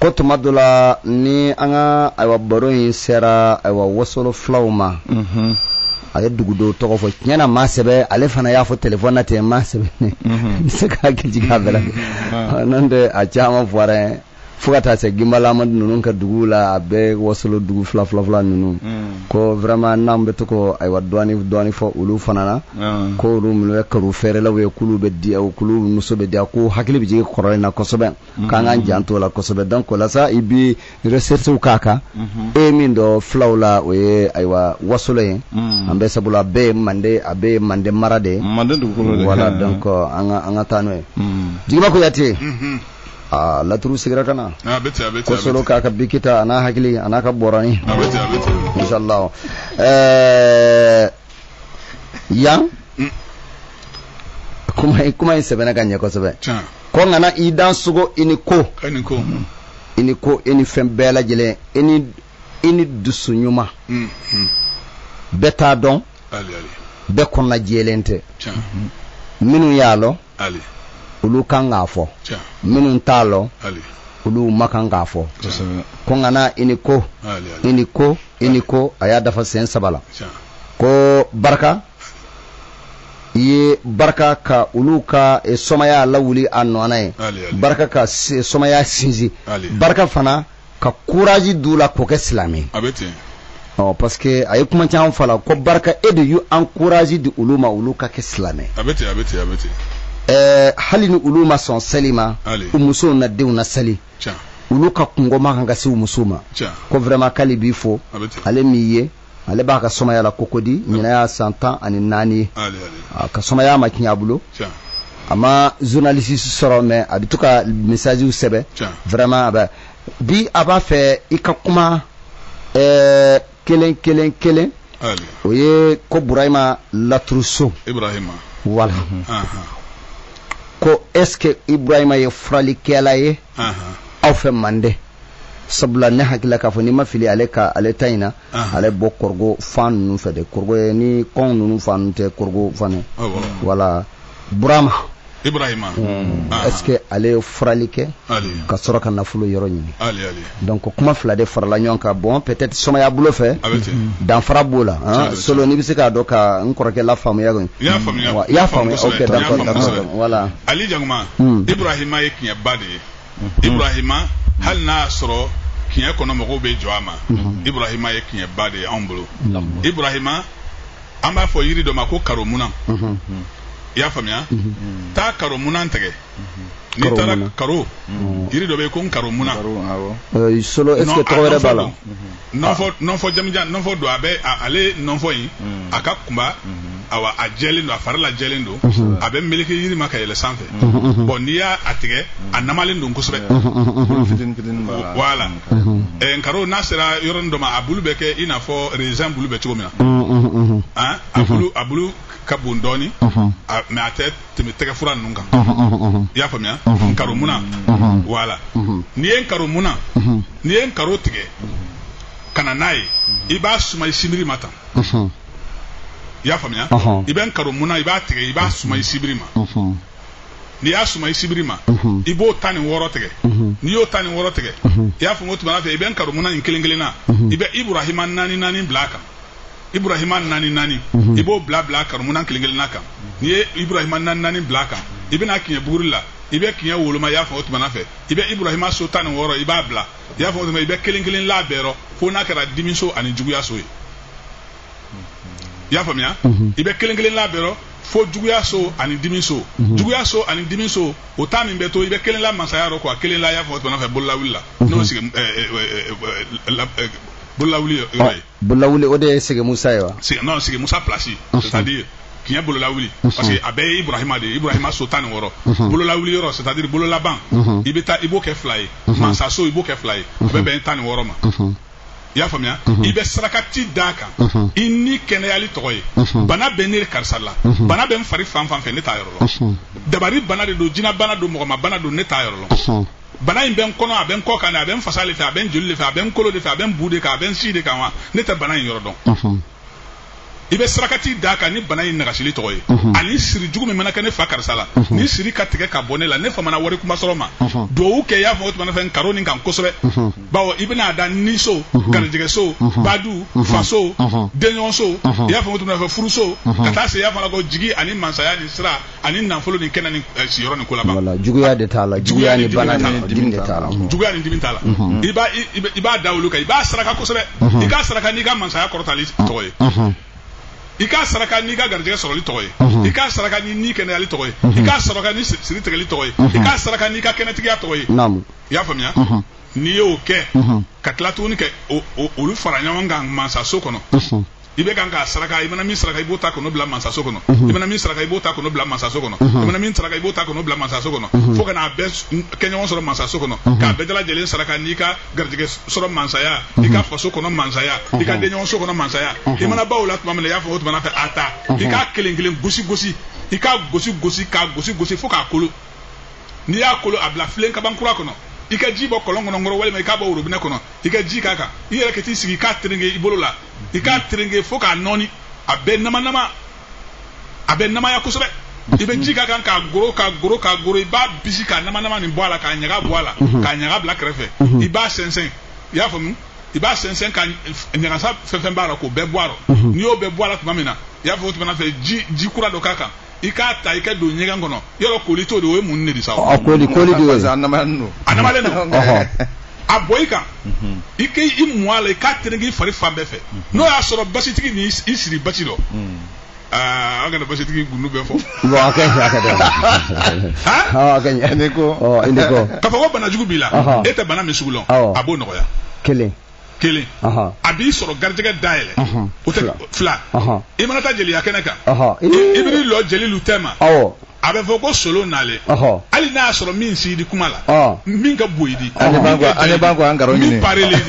ko tuma dɔ la ni an ka ayiwa baro in sera ayiwa wasolo filaw ma mhm. a ye dugu dɔw tɔgɔ fɔ tiɲɛ na a ma sɛbɛn ale fana y'a fɔ telefɔni na ten a ma sɛbɛn ne ma se ka hakili jigin a bɛɛ la mhm. n'o tɛ a caman fɔra yen fo ka taa se ginbala amadu ninnu ka duguw la a bɛɛ wasolo dugu fila fila fila ninnu ko vraiment n'an bɛ to ko ayiwa dɔɔni dɔɔni fɔ olu fana na ko olu minnu ye karo fɛɛrɛlaw ye k'olu bɛ di k'olu muso bɛ di ko hakili bɛ jigin kɔrɔlen na kosɛbɛ k'an k'an jan to la kosɛbɛ donc la sa i bɛ recherche k'a kan e min dɔn fulaw la o ye ayiwa wasolo ye an bɛ sabula a bɛɛ ye mande a bɛɛ mande mara de ye wala donc an ka taa n'o ye jigima ko yatɛ aa laturu sigira ka na kosolo k'a ka biki ta a n'a hakili a n'a ka bɔrani insala ɛɛ yan mm. kuma in sɛbɛnna ka ɲɛ kosɛbɛ ko ŋana i dansogo i ni ko i ni ko i ni fɛn bɛɛ lajɛlen i ni i ni dusu ɲuman mm, mm. bɛɛ t'a dɔn bɛɛ kɔnɔna jɛlen tɛ minnu y'a lɔn olu kan k'a fɔ minnu t'a lɔn olu ma kan k'a fɔ ko ŋana i ni ko i ni ko i ni ko a y'a dafa sen saba la ko barika i ye barika ka olu ka eh, sɔmaya lawuli a nɔ na i ye barika ka sɔmaya sinsin barika fana ka courage d'u la k'u kɛ silamɛ a bɛ ten ɔ parce que a ye kuma caman fɔ a la ko barika e de y'u encourage di olu ma olu ka kɛ silamɛ a bɛ ten a bɛ ten a bɛ ten ɛɛ hali ni olu ma sɔn seli ma Hali. u musow n'a denw na seli tiɲɛ olu ka kungo ma kan ka se u musow ma tiɲɛ ko vraiment k'ale b'i fo a bɛ ten ale m'i ye ale b'a ka sɔmaya la kokodi ɲina y'a san tan ani naani ye a ka sɔmaya ma kiɲɛ a bolo a ma journaliste sɔrɔ mais a bɛ to ka messages sɛbɛn vraiment a bɛ bi a b'a fɛ i ka kuma ɛɛ kelen kelen kelen o ye ko burahima laturu so ibrahima wala ko est ce que ibrahima ye furalikɛla ye aw fɛ mande sabula ne hakili la k'a fɔ ni n ma fili ale ka ale ta in na ale bɔ kɔrɔgo fan ninnu fɛ de kɔrɔgo ye ni kɔn ninnu fan ninnu tɛ kɔrɔgo fan ye wala burama ibrahima hmm. ah. est-ce que ale ye furali kɛ ka sɔrɔ ka nafolo yɔrɔ ɲini donc kuma fila de farala ɲɔgɔn kan bon peut-être sɔmaya bolo fɛ hmm. danfara b'o la hein. solo n'i bɛ se k'a dɔn ka n kɔrɔkɛ lafaamuya kɔni i y'a faamuya ok d'accord d'accord voilà ali jakuma Hmm. ibrahima ye kiɲɛba de ye hmm. ibrahima hmm. hali n'a y'a sɔrɔ kiɲɛ kɔnɔ mɔgɔw bɛ jɔ a ma ibrahima ye kiɲɛba de ye anw bolo ibrahima an b'a fɔ yiri dɔ ma ko karomunan i y'a faamuya taa karomunan tigɛ n'i taara karo yiri dɔ bɛ yen ko nkaromunan solo est ce que tɔgɔ wɛrɛ b'a la nɔnfɔ nɔnfɔ jamujan nɔnfɔ don a bɛ ale nɔnfɔ in mm. a ka kunba mm-hmm. awa a jɛlen don a fara lajɛlen don mm-hmm. a bɛ meleke yiri ma ka yɛlɛ sanfɛ mm-hmm. bon n'i y'a a tigɛ a namalen don kosɛbɛ voilà eh, nkaro n'a sera yɔrɔnin dɔ ma a bulu bɛ kɛ i n'a fɔ raisin bulu bɛ cogo min na a bulu ka bon dɔɔnin mais a tɛ tɛmɛ tɛgɛfura ninnu kan i y'a faamuya karomunan voilà n'i ye nkaromunan n'i ye nkaro tigɛ ka na n'a ye i b'a suma i sibiri ma tan i y'a faamuya i bɛ nkaromunan i b'a tigɛ i b'a suma i sibiri ma n'i y'a suma i sibiri ma i b'o tan ni wɔɔrɔ tigɛ n'i y'o tan ni wɔɔrɔ tigɛ i y'a faamu o tuma na fɛ i bɛ nkaromunan in kelen kelenna i bɛ iburahima naani naani bila a kan iburahima naani naani mhm. i b'o bila bila karomunan kelen kelenna kan n'i ye iburahima naani naani bila a kan i bɛna kiɲɛ buguri la i bɛ kiɲɛ woloma i y'a faamu o tuma na fɛ i bɛ iburahima so tan ni wɔɔrɔ i b'a bila i y'a faamu o tuma i bɛ kelen kelen la bɛɛ rɔ fo n'a kɛra dimi so ani juguya so ye i y'a faamuya mhm. i bɛ kelen kelen la bɛɛ rɔ fo juguya so ani dimi so mhm. juguya so ani dimi so o ta min bɛ to i bɛ kelen la masaya rɔ ka kelen la i y'a faamu o tuma na fɛ bololawuli la n'o sigi Bololawuli ye yɔrɔ ye. Bololawuli o de ye Sege Musa ye wa? non Sege Musa place c'est à dire kiɲɛ bololawuli parce que a bɛɛ ye Ibrahima de ye Ibrahima so tan ni wɔɔrɔ bololawuli yɔrɔ c'est à dire bololaban i bɛ taa i b'o kɛ fila ye mansaso i b'o kɛ fila ye a bɛ bɛn tan ni wɔɔrɔ ma. i y'a faamuya i bɛ sarakati d'a kan i ni kɛnɛyali tɔgɔ ye bana bɛ ne karisa la bana bɛ n fari fan fan fɛ ne t'a yɔrɔ lɔn dabari bana de don jina bana don mɔgɔma bana don ne t'a yɔrɔ lɔn bana in bɛ n kɔnɔ a bɛ n kɔ kan ne a bɛ n fasa le fɛ a bɛ n joli le fɛ a bɛ n kolo le fɛ a bɛ n bu de kan a bɛ n si de kan wa ne tɛ bana in yɔrɔ dɔn i bɛ sarakati d'a kan ni bana in nagasili tɔgɔ ye ani siri jugu min mana kɛ ne fa karisa la ni siri ka tigɛ ka bɔ ne la ne famana wari kuma sɔrɔ ma duwawu kɛ i y'a faamu o tuma na fɛ karo nin kan kosɛbɛ bawo i bɛna a da niso garijɛgɛso badu faso denɲɔgɔnso i y'a faamu o tuma na fɛ furuso ka taa se y'a fana ko jigi ani mansaya ni sira ani nafolo ni kɛnɛ ni eh, siyɔrɔ ni kolaba voilà juguya de t'a la juguya ni bana ni dimi de t'a la mhm. juguya ni dimi t'a la mhm. i b'a i b'a da olu kan i b'a saraka kosɛbɛ mhm. i k'a saraka n'i ka mansaya kɔrɔtali tɔgɔ ye i k'a saraka n'i ka garijɛgɛ sɔrɔli tɔgɔ ye i k'a saraka ni ni kɛnɛyali tɔgɔ ye i k'a saraka ni siri tigɛli tɔgɔ ye i k'a saraka n'i ka kɛnɛtigiya tɔgɔ ye i y'a faamuya n'i y'o kɛ ka tila tuguni kɛ olu fara ɲɔgɔn kan mansaso kɔnɔ i bɛ kan k'a saraka i mana min saraka i b'o ta kɔnɔ bila mansaso kɔnɔ i mana min saraka i b'o ta kɔnɔ bila mansaso kɔnɔ i mana min saraka i b'o ta kɔnɔ bila mansaso kɔnɔ fo ka n'a bɛɛ kɛ ɲɔgɔn sɔrɔ mansaso kɔnɔ k'a bɛɛ lajɛlen saraka n'i ka garijɛgɛ sɔrɔ mansaya i ka faso kɔnɔ mansaya i ka denɲɔgɔnso kɔnɔ mansaya i mana baw la tuma min na i y'a fɔ o tuma na fɛ a ta i k'a kelen kelen gosi gosi i k'a gosi gosi k'a gosi gosi fo k'a kolo n'i y'a kolo a bila filen kaban kura kɔnɔ i ka ji bɔ kɔlɔn kɔnɔ nkɔrɔ walima i k'a bɔ worobinɛ kɔnɔ i ka ji k'a kan i yɛrɛ ka t'i sigi i k'a terenge i bolo la i k'a terenge fo k'a nɔɔni a bɛ namanama a bɛ namaya kosɛbɛ i bɛ ji k'a kan k'a goro k'a goro k'a goro i b'a bisi k'a namanama nin bɔ a la k'a ɲaga bɔ a la k'a ɲaga bila kɛrɛfɛ i b'a sɛnsɛn i y'a faamu i b'a sɛnsɛn ka ɲagasa fɛn fɛn b'a la k'o bɛɛ bɔ a rɔ n'i y'o bɛɛ bɔ a la tuma min na i y'a fɔ o tuma fɛ ji ji kura dɔ k'a kan i k'a ta i ka don ɲɛgɛn kɔnɔ yɔrɔ koli t'o de o ye munni de sa a koli koli de y'o a namalen don a namalen don a bɔn i kan i k'i mun a la i k'a terenge i fari fan bɛɛ fɛ n'o y'a sɔrɔ basitigi ni i siri basi dɔ aa an kana basitigi gundu bɛɛ fɔ bon a ka ɲi a ka ɲi a ka ɲi ne ko ne ko k'a fɔ ko bana jugu b'i la e tɛ bana min sugu lɔn a b'o nɔgɔya kelen kelen a b'i sɔrɔ garijɛgɛ dayɛlɛ o tɛ fila i mana taa jeliya kɛnɛ kan i bɛ lɔ jelilu tɛma a bɛ fɔ ko solo nalen hali n'a y'a sɔrɔ min s'i di kuma la min ka bon i di min parelen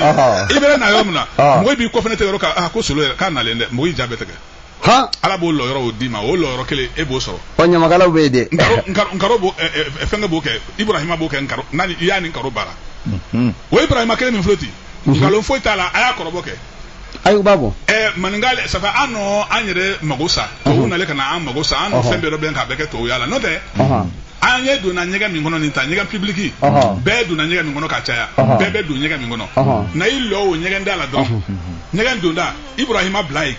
i bɛ na yɔrɔ min na mɔgɔ b'i kɔfɛ tɛ yɔrɔ ko solo k'a nalen dɛ mɔgɔyi ja bɛ tigɛ han ala b'o lɔyɔrɔ o d'i ma o lɔyɔrɔ kelen e b'o sɔrɔ ɔ ɲamakalaw bɛ yen dɛ nkaro nkaro nkaro b'o ɛ, ɛ, fɛnkɛ b'o kɛ ibrahima b'o kɛ nkaro n'a ni i y'a ni nkaro baara Mhm. o ibrahima kelen min filɛ ten nkalon foyi t'a la a y'a kɔrɔbɔ kɛ ayi u b'a bɔ ɛ maninka le- safa an nɔ an yɛrɛ mago sa tubabu Ɔhɔn. nalen ka na an mago sa an nɔ Ɔhɔn. fɛn bɛɛ dɔbɛn k'a bɛɛ kɛ tubabuya la n'o tɛ Ɔhɔn. an ye donna ɲɛgɛn min kɔnɔ nin ta ɲɛgɛn pibiliki Ɔhɔn. bɛɛ donna ɲɛgɛn min kɔnɔ ka caya Ɔhɔn. bɛɛ bɛ don ɲɛgɛn min kɔnɔ Ɔhɔn. na i lɔ o ɲɛgɛn da la dɔrɔn ɲɛgɛn donda ibrahima bila yen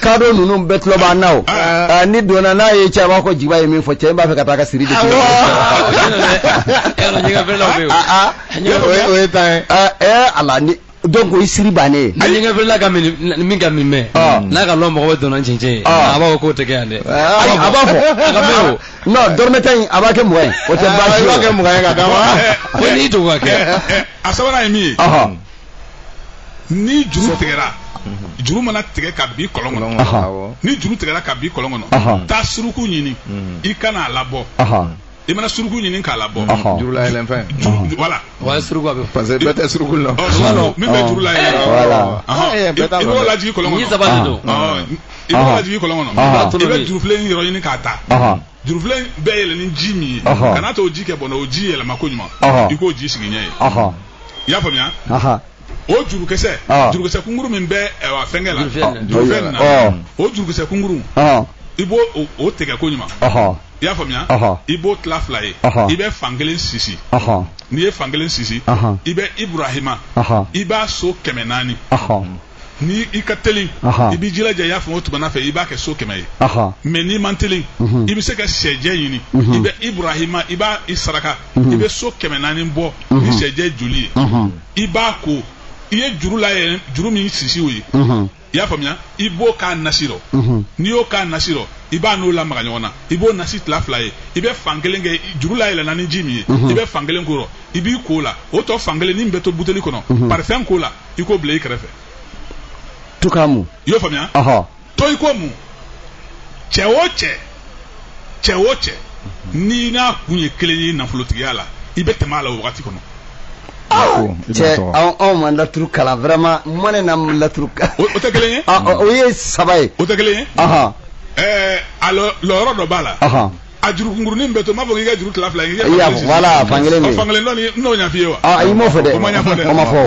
kadɔ ninnu bɛɛ tulo b'an na o Aa, n'i donna n'a ye cɛ a b'a fɔ ko jiba ye min fɔ cɛ in b'a fɛ ka taa ka siri de tigɛ. Yɔrɔ ɲɛgɛn feerelaw bɛ yen o. Ah, ah. Ɲɛgɛn O ye- o ye tan ye. Ah, eh, ala ni donc o ye siri bannen ye. Ni ɲɛgɛn feerela ka min ni min ka min mɛn Ah. n'a ka lɔn mɔgɔ bɛ donna cɛncɛn ye Ah. a b'a fɔ k'o tɛ kɛ yan dɛ. Ah, a b'a fɔ a ka mɛn o. non dɔrɔmɛ tan in a b'a kɛ mugan ye o tɛ Ah, baasi i ye b'a o. kɛ mugan ye ka d'a ma. Ko n'i to ka kɛ. a sabanan ye min ye Ɔhɔ. ni juru tigɛra juru mana tigɛ ka bi kɔlɔn kɔnɔ ni juru tigɛra ka bi kɔlɔn kɔnɔ taa suruku ɲini i ka na a labɔ i mana suruku ɲini k'a labɔ juru layɛlɛn fɛn voilà wa suruku a bɛ parce que bɛɛ tɛ suruku la min bɛ juru layɛlɛn i b'o lajigi kɔlɔn kɔnɔ i b'o lajigi kɔlɔn kɔnɔ i bɛ jurufilen yɔrɔ ɲini k'a ta jurufilen in bɛ yɛlɛ ni ji min ye Ɔhɔ. kana to o ji kɛ bɔnna o ji yɛlɛma koɲuman Ɔhɔ. i k'o ji sigi ɲɛ ye Ɔhɔ. i y'a faamuya Aha. o jurukisɛ Ɔhɔ. jurukisɛ kunkuru min bɛ ɛwa fɛnkɛ la Jurufilen in na. jurufilen in na Ɔhɔ. o jurukisɛ kunkuru Ɔhɔ. i b'o o- o tigɛ koɲuman Ɔhɔ. i y'a faamuya Ɔhɔ. i b'o tila fila ye Ɔhɔ. i bɛ fan kelen sisi Ɔhɔ. n'i ye fan kelen sisi Ɔhɔ. i bɛ Iburahima Ɔhɔ. i b'a so kɛmɛ naani Ɔhɔ. ni i ka teli i b'i jilaja i y'a faamu o tuma fɛ i b'a kɛ so kɛmɛ ye mais n'i man teli mhm. i bɛ se ka sɛjɛ ɲini mhm. i bɛ Iburahima i b'a i saraka mhm. i bɛ so kɛmɛ naani bɔ ni sɛjɛ joli ye i b'a ko i ye juru layɛ juru min sisi o ye i y'a faamuya i b'o k'a nasi rɔ n'i y'o k'a nasi rɔ i b'a n'o lamaga ɲɔgɔn na i b'o nasi tila fila ye i bɛ fan kelen kɛ juru layɛlɛnna ni ji min ye i bɛ fan kelen k'o rɔ i b'i k'o la o tɔ fan kelen ni min bɛ to buteli kɔnɔ parifɛn k'o la i k'o bila i kɛrɛfɛ to k'a mun i y'o faamuya ɔhɔ to i k'o mun cɛ o cɛ cɛ o cɛ n'i n'a kun ye kelen ye nafolotigiya la i bɛ tɛmɛ a la o wagati kɔnɔ cɛ anw anw ma laturu kalan vraiment mɔ ne na laturu kalan o o tɛ kelen ye Ah, o o ye saba ye o tɛ kelen ye ɔhɔ ɛɛ a lɔ- lɔyɔrɔ dɔ b'a la ɔhɔ a juru kunkurunin bɛ to n m'a fɔ k'i ka juru tila fila ye. i y'a fɔ voilà fankelen bɛ yen fankelen dɔ nin n'o ɲaf'i ye wa. aa i m'o fɔ dɛ o ma ɲafɔ dɛ o ma fɔ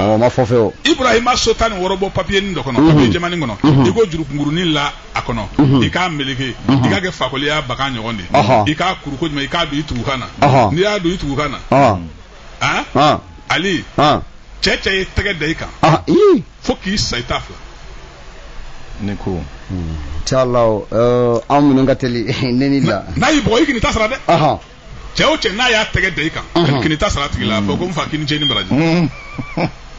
o ma fɔ fewu. Ibrahima so tan ni wɔɔrɔ bɔ papiye nin dɔ kɔnɔ papiye jɛmanin kɔnɔ i k'o juru kunkurunin la a kɔnɔ i k'a meleke i k'a kɛ fakoliya bagan ɲɔgɔn de ye i k'a kuru koɲuman i k'a don i tugukan na n'i y'a don i tugukan na. ali cɛ cɛ ye tɛgɛ da i kan. fo k'i sa i t'a fila ne ko inshallah an minnu ka teli neni la n'a y'i bugɔ i kan'i ta sara dɛ cɛ o cɛ n'a y'a tɛgɛ da i kan kan'i ta sara a tigi la fɔ ko n fa k'i ni ce ni baraji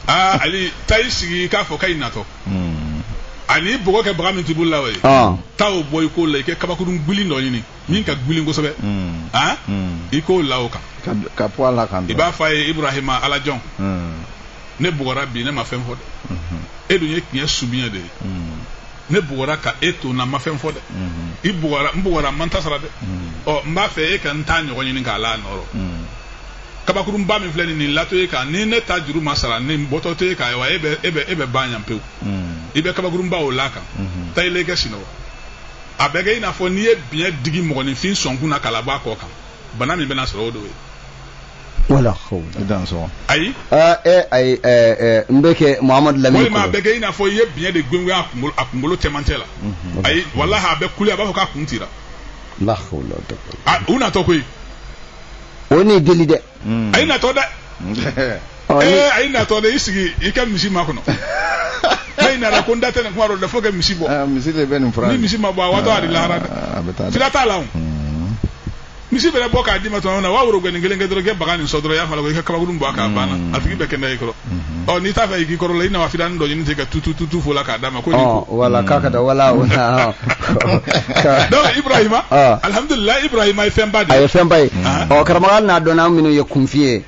aa ali taa i sigi k'a fɔ k'a y'i natɔ a n'i bugɔ kɛ bagan min t'i bolo la wa ye taa o bɔ i k'o la i kɛ kabakurun gili dɔ ɲini min ka gulin kosɛbɛ hmm. ah? hmm. i k'o la o kan ka bɔ ala kan i b'a fɔ a ye Ibrahima Ala jɔn hmm. ne bugɔra bi ne ma fɛn fɔ dɛ e dun ye tiɲɛ subiɲɛ de ye ne bugɔra ka e to n na n ma fɛn fɔ dɛ i bugɔra n bugɔra n ma n ta sara dɛ ɔ n b'a fɛ e ka n ta ɲɔgɔn ɲini k'a la nɔ rɔ kabakurunba min filɛ nin nin latɔ e kan ni ne ta juru ma sara nin bɔtɔ tɛ e kan ayiwa e bɛ e bɛ e bɛ ban yan pewu i bɛ kabakurunba o la a kan taa i la i kɛ sinɔgɔ a bɛ kɛ i n'a fɔ n'i ye biɲɛ digi mɔgɔninfin sɔnkun na k'a labɔ a kɔ kan bana min bɛna sɔrɔ o de ye wala ko dan sɔn ayi aa e ayi ɛɛ n bɛ kɛ muhamadu lamini walima a bɛ kɛ i n'a fɔ i ye biɲɛ de gengen a kunkolo a kunkolo cɛmancɛ la mhm. ayi walahi a bɛ kule a b'a fɔ k'a kun cira la hawla u natɔ koyi o ni deli dɛ a ye natɔ dɛ ee a ye natɔ dɛ i sigi i ka misi makɔnɔ n'a nana ko n da tɛ nin kuma dɔ la fo ka misi bɔ ah, misi de bɛ nin fura ni misi ma bɔ a waatɔ a de lahara dɛ ah, a bɛ taa fila t'a la o hmm. misi mana bɔ k'a d'i ma tuma min na wa woro gɛnin kelen kɛ dɔrɔn ka baga nin sɔn dɔrɔn i y'a fɔ a la ko i ka kabakurun bɔ a kan a banna hmm. a tigi bɛ kɛnɛya i kɔrɔ ɔ n'i t'a fɛ i k'i kɔrɔ la i na wa fitani dɔ ɲini ten ka tutu tutu fɔ a la k'a d'a ma ko ɔ wala k'a ka da wala wala donc ibrahima alhamdulilayi ibrahima ye fɛnba de ye a ye fɛnba ye ɔ karamɔgɔ hali n'a dɔn an minnu ye kunfin ye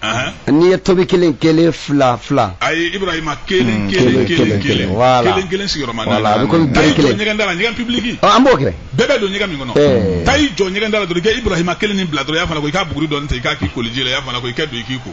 n'i ye tomi kelen kelen fila fila ayi ibrahima kelen kelen kelen kelen wala kelen kelen sigiyɔrɔma naani wala a bɛ komi bɛɛ kelen ɲɛgɛn da la ɲɛgɛn pibuliki ɔ an b'o kɛ bɛɛ bɛ don ɲɛgɛn min kɔnɔ taa i jɔ ɲɛgɛn da la dɔrɔn i ka ibrahima kelen nin bila dɔrɔn i y'a fana ko i k'a buguri dɔɔni ta i k'a k'i koliji la i y'a fana ko i ka don i k'i ko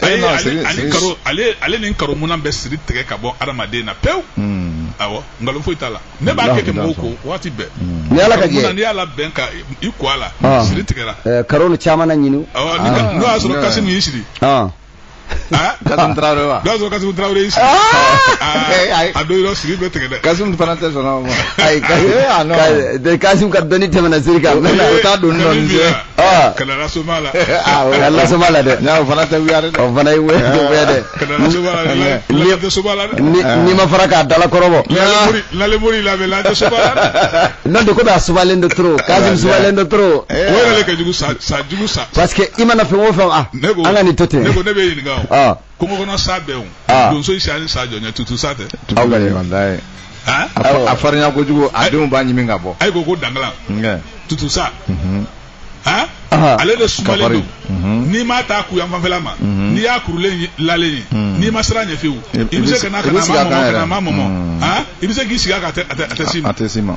ale ni karo minnu bɛ siri tigɛ ka bɔ adamaden na pewu hmm. nkalon foyi t'a la ne b'a kɛ mɔgɔw ko waati bɛɛ ni ala ka jɛ n'i y'a labɛn ka i ko a la ah. siri tigɛra eh, karo ni caman na ɲini ah. n'o y'a sɔrɔ Kasimu y'i siri ah. Kasimu Traore wa. N'o y'a sɔrɔ Kasimu Traore y'i siri. A don yɔrɔ siri bɛ tigɛ dɛ. Kasimu fana tɛ sɔn o ma. Ayi Kasimu. Kasimu ka dɔnni tɛmɛna siri kan. O t'a don dɔɔni. Ah. kana la soma la ah, o y'a la soma la dɛ n'a o fana tɛ wuya dɛ o fana ye wuya tɛ wuya dɛ kana la soma la la tɛ soma la dɛ n'i ma fara k'a dala kɔrɔbɔ la le mori la bɛ la tɛ soma la dɛ n'o de ko bɛ a sumalen don trop Kasimu sumalen don trop o yɛrɛ de ka jugu sa sa jugu sa parce que i mana fɛn o fɛn ah an ka nin to ten ne ko ne bɛ ɲininka o kungo kɔnɔ sa bɛɛ o Ah. donso siranni sa jɔn ɲɛ tutu sa tɛ aw ka ɲi walayi han a fa- a farinya kojugu a denw b'a ɲimi ka bɔ ayi ko ko dangala Nkɛ. tutu sa Mhm. han Aha. ale de sumalen Kafari. don Mhm. n'i m'a ta ku yan fanfɛla ma Mhm. n'i y'a kurulen ye- lalen ye Mhm. n'i ma siran ɲɛ fiyewu I- i i bɛ bɛ se se- ka na i ka bɛ na a sigi ma a kan mɔmɔ ka yɛrɛ. na a ma mɔmɔ Mhm. han i bɛ se k'i sigi a kan a tɛ- a tɛ a tɛ s'i ma a tɛ s'i ma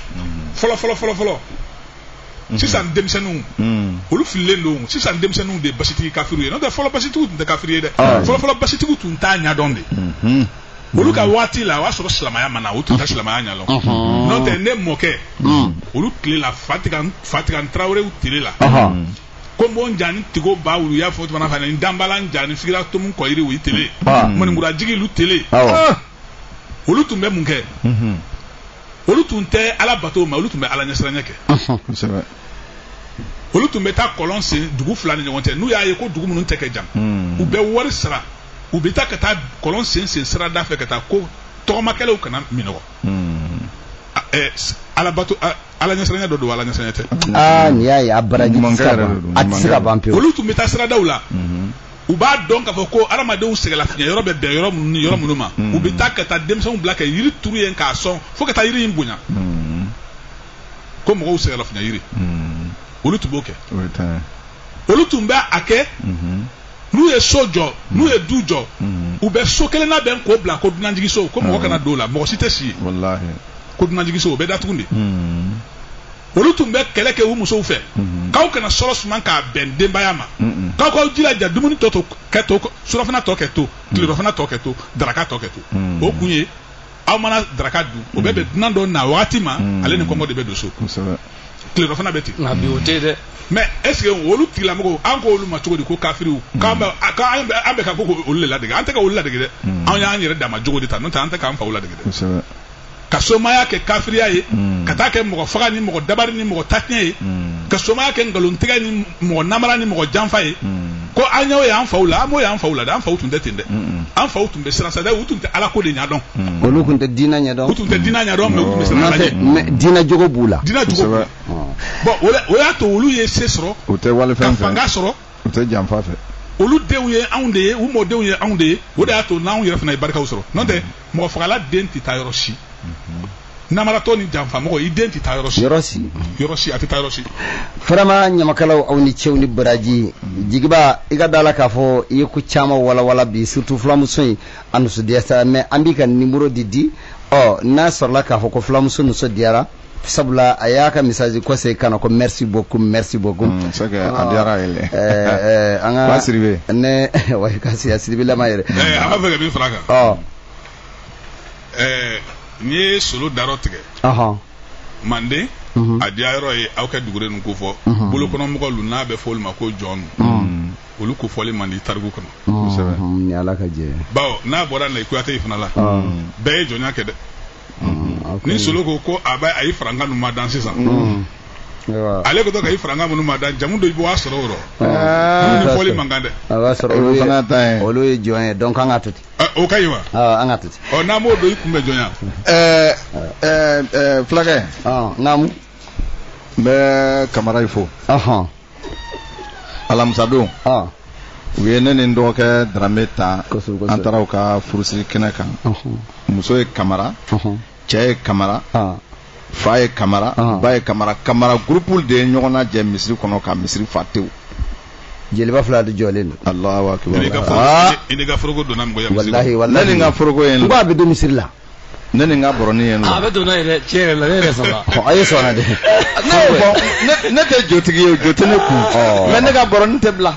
fɔlɔ fɔlɔ fɔlɔ fɔlɔ mhm. sisan denmisɛnninw mhm. olu fililen don sisan denmisɛnninw de ye basitigi kafiriw ye n'o tɛ fɔlɔ basitigiw tun tɛ kafiri ye dɛ ah. fɔlɔ fɔlɔ basitigiw tun t'a ɲɛdɔn de mhm. olu ka waati la o y'a sɔrɔ silamaya ma na u tun tɛ silamaya ɲɛdɔn n'o tɛ ne mɔkɛ olu tile la fatigan fatigan tarawelew tile la ko n b'o n jani tigo ba wulu y'a fɔ tuma na fana n danbala n jani sigira tomu kɔyiri o ye tele ah. maninkura jigi lu tele ah. olu tun bɛ mun kɛ olu tun tɛ ala bato ma olu tun bɛ ala ɲɛsiranya kɛ olu tun bɛ taa kɔlɔn sen dugu fila ni ɲɔgɔn cɛ n'u y'a ye ko dugu minnu cɛ ka jan hmm. u bɛ wari sara u bɛ taa ka taa kɔlɔn sen sen sira da fɛ ka taa ko tɔgɔmakɛlaw kana minnɔgɔ hmm. alabato ala ɲɛsiranya dɔ don ala ɲɛsiranya tɛ aa nin y'a ye a baraji tɛ se ka ban a tɛ se ka ban pewu olu tun bɛ taa siradaw la mhm. u b'a dɔn k'a fɔ ko adamadenw sɛgɛlafiɲɛ yɔrɔ bɛ bɛn yɔrɔ minnu ni yɔrɔ minnu ma mhm. u bɛ taa ka taa denmisɛnw bila ka yiri turu yen k'a sɔn fo ka taa yiri in bonya mhm. ko mɔgɔw sɛgɛlafiɲɛ yiri olu tun b'o kɛ olu tun bɛ a kɛ n'u ye so jɔ n'u ye du jɔ u bɛ so kelen labɛn k'o bila ko dunanjigiso ko mɔgɔ kana don o la mɔgɔ si tɛ si yen ko dunanjigiso o bɛ datugu de olu tun bɛ kɛlɛ kɛ u musow fɛ k'aw kana sɔrɔ suman k'a bɛn denbaya ma k'aw k'aw jilaja dumuni tɔ kɛ to surafana tɔ kɛ to tilelafana tɔ kɛ to daraka tɔ kɛ to o kun ye aw mana daraka dun o bɛ bɛn dunan dɔ na waati ma mm. ale ni kɔngɔ de bɛ don so tilerɔfana bɛ ten nka bi o tɛ dɛ mais est-ce que olu tigilamɔgɔw an ko olu ma cogo di ko kafiriw mm. k'an bɛ an bɛ ka ko olu le ladege an tɛ ka olu ladege dɛ mm. anw y'an yɛrɛ dama jogo de ta n'o tɛ an tɛ k'an faw ladege dɛ ka somaya kɛ kafiriya ye ka taa kɛ mɔgɔ faga ni mɔgɔ dabari ni mɔgɔ ta tiɲɛ ye ka somaya kɛ nkalontigɛ ni mɔgɔ namara ni mɔgɔ janfa ye ko an y'o y'an faw la an m'o y'an faw la dɛ an faw tun tɛ ten dɛ an faw tun bɛ siran sa dɛ u tun tɛ ala ko de ɲɛdɔn olu tun tɛ diinɛ ɲɛdɔn u tun tɛ diinɛ ɲɛdɔn mais u tun bɛ siran ala ɲɛ mais diinɛ jogo b'u la diinɛ jogo b'u la bon o la- o y'a to olu ye se sɔrɔ u tɛ wali fɛn fɛ ka fanga sɔrɔ u tɛ janfa fɛ olu denw ye anw de ye u mɔdenw ye anw de ye o de y'a to n'anw yɛrɛ fana ye barikaw sɔrɔ n'o tɛ mɔgɔ fagala den tɛ taa yɔrɔ si namaratɔ ni janfamɔgɔ i den tɛ taa yɔrɔ si yɔrɔ si yɔrɔ si a tɛ taa yɔrɔ si vraiment ɲamakalaw aw ni ce aw ni baraji jigiba i ka da la k'a fɔ i ye ko caman walawala bi surtout fulamuso in a nusu diya sa mais an b'i ka nimoro de di ɔ n'a sɔrɔla k'a fɔ ko fulamuso nusu diyara sabula a y'a ka message kɔsegi ka na ko merci beaucoup merci beaucoup mm, c'est que a diyar'a ye dɛ ɛɛ an ka siribe ne wa ka se a siribe lama yɛrɛ ɛɛ an b'a fɛ ka min fara a kan ɔ ɛɛ n'i ye solo darɔ tigɛ ɔhɔn manden mhm. a diya yɔrɔ ye aw ka dugure ninnu ko fɔ mhm. bolokɔnɔmɔgɔ lu n'a bɛ fɔ olu ma ko jɔnw mhm. olu ko fɔli man di tariku kɔnɔ ni ala ka jɛ bawo n'a bɔra na i kuyate fana la bɛɛ ye jɔnya kɛ dɛ mm, ni solo ko ko a bɛ a ye farankan ninnu madan sisan mm. ale ko to ka i farankan minnu madan jamu dɔ i b'a sɔrɔ o rɔ ah. minnu fɔli man kan dɛ a b'a sɔrɔ olu ye olu ye jɔn ye donc an ka to ten ah, o ka ɲi wa ah, an ka to ten ɔ n'an b'o dɔn i kun bɛ jɔnya ɛɛ ɛɛ fulakɛ naamu n bɛ kamara fo alamisadon u ye ne ni n dɔgɔkɛ darame ta an taara u ka furusiri kɛnɛ kan muso ye kamara cɛ ye kamara fa ye kamara ba ye kamara kamara gurupu de ye ɲɔgɔn najɛ misiri kɔnɔ ka misiri fa tewu jeliba fila de jɔlen don alahu akibaru i n'i ka foroko donna ne ni n ka foroko ye n ko a bɛ don misiri la ne ni n ka bɔrɔnin ye n a bɛ don n'a ye dɛ tiɲɛ yɛrɛ la ne yɛrɛ sɔnna a ye sɔnna dɛ ne y'o fɔ ne tɛ jotigi ye jo tɛ ne kun mais ne ka bɔrɔnin tɛ bila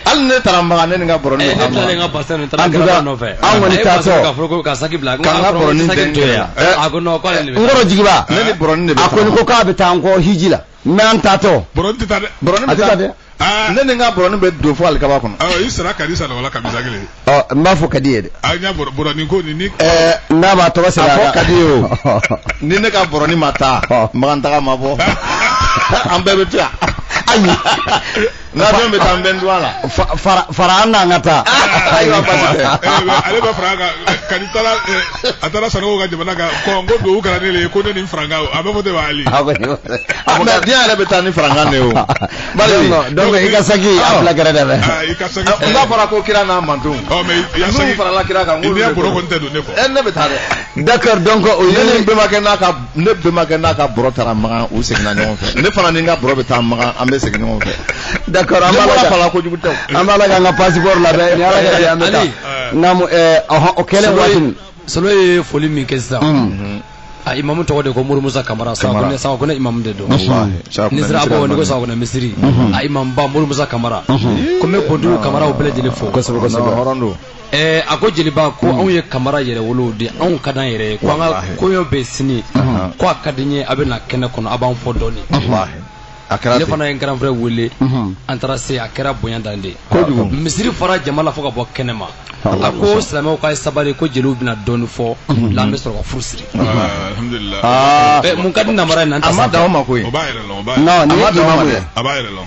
hali ne taara makan ne ni n ka bɔrɔnin bɛ bila ne ka basa nin taara gɛrɛ nɔfɛ an kɔni taatɔ ka fɔ ko ka saki bila ka n ka bɔrɔnin tɛ to yan a ko non k'ale de bɛ n kɔrɔ jigiba ne ni bɔrɔnin de bɛ a kɔni ko k'a bɛ taa n kɔ hiji la mais an taatɔ bɔrɔnin tɛ taa dɛ bɔrɔnin bɛ taa dɛ ah. ne ni n ka bɔrɔnin bɛ don fo alikaba kɔnɔ ah, i sara kadi sara wala kamisa kelen ɔ n b'a fɔ kadi ye dɛ a n y'a bɔrɔnin ko nin ni eh, n'a b'a tɔgɔ sɛbɛn a fɔ kadi ye o ni ne ka bɔrɔnin ma taa makan taga ma bɔ an bɛɛ bɛ to yan ayi n'a fɛn bɛ taa n bɛ n dɔn la. fara an n'an ka taa. ayiwa basi tɛ. ale bɛ fara kan ka ni taara a taara sanogo ka jamana kan kɔn ko dugawu kɛra ne de ye ko ne ni farankan a bɛ fɔ de b'ale. a bɛ ne fɔ mais diɲɛ yɛrɛ bɛ taa ni farankan de ye o. bari donc i ka saki a bila gɛrɛ fɛ dɛ. i ka saki. n b'a fɔra ko kira n'a mantonw. ɔ mais i ya saki n'u farala kira kan. i n'i ya bɔrɔ kɔni tɛ don ne kɔ. ɛ ne bɛ taa dɛ. d'accord donc o ye ne bɛnbakɛ n'a ka ne bɛnbakɛ n'a ka bɔrɔ taara magan u seginna ɲɔgɔn fɛ ne fana ni n ka bɔrɔ bɛ taa magan an bɛ segin ɲɔgɔn fɛ d'accord an b'a la ka fala kojugu tɛ an b'a la k'an ka passeport labɛn ni ala ka di an bɛ taa naamu eh, ɔhɔn o kɛlen waati min solo ye foli min kɛ sisan mm. a imamu tɔgɔ de ko mori musa kamara siaka kɔnɛ imamu de don n'i sera abobo n'i ko siaka kɔnɛ misiri mm-hmm. a imamu ba mori musa kamara mm-hmm. ko n bɛ bonduku kamaraw bɛɛ lajɛlen fo kosɛbɛ kosɛbɛ hɔrɔn don ɛɛ a ko jeliba ko anw ye kamara yɛrɛ wolow de anw ka d'an yɛrɛ ye ko an ka Walahi. koɲɔ bɛ sini Ahan. ko a ka di n ye a bɛ na kɛnɛ kɔnɔ a b'an fɔ dɔɔni Walahi. a kɛra ne ten fana ye n grand frère wele Mhm. an taara se a kɛra bonya dan de ye Kojugu. misiri fara jama la fo ka bɔ kɛnɛ ma Walahi. a ko silamɛw k'a ye sabali ko jeliw bɛna dɔɔni fɔ la an bɛ sɔrɔ ka furu siri alhamdulilah Aa, Ɛ, mun ka di namara in na an tɛ a ma dan o ma koyi o b'a yɛrɛ lɔn o b'a yɛrɛ non lɔn. nin ye ma dan o ma imamu dɛ. ye a b'a yɛrɛ lɔn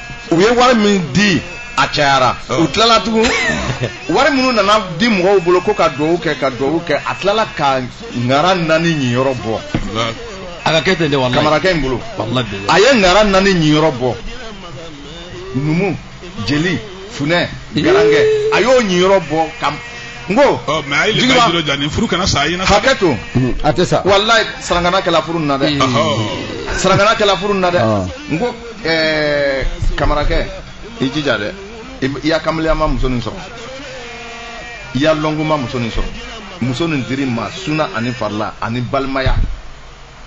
u ye wari min di a cayara u tilala tugun wari minnu nana di mɔgɔw bolo ko ka dugawu kɛ ka dugawu kɛ a tilala ka ŋara naani ɲiyɔrɔ bɔ a ka kɛ ten de walayi kamarakɛ in bolo a ye ŋara naani ɲiyɔrɔ bɔ numu jeli funɛ garankɛ a y'o ɲiyɔrɔ bɔ ka n ko mais a ye le ka jiro ja nin furu kana sa a ɲɛna hakɛ to a tɛ sa walayi sarangana kɛla furu nin na dɛ sarangana kɛla furu nin na dɛ n ko ɛɛ kamarakɛ i jija dɛ i y'a kamaleyama muso nin sɔrɔ i y'a lɔnkuma muso nin sɔrɔ muso nin dir'i ma suna ani farila ani balimaya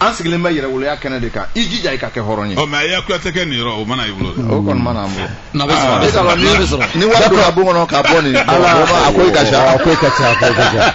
an sigilen bɛ yɛrɛwoloya kɛnɛ de kan i jija i ka kɛ hɔrɔn ye. ɔ mais a y'a kuyatɛkɛ niyɔrɔ o ma na i bolo. o kɔni ma na an bolo. n'a bɛ sɔrɔ a bɛ sɔrɔ ni wari donna bon kɔnɔ ka bɔ nin. ala a ko i ka ca a ko i ka ca a ko i ka ca.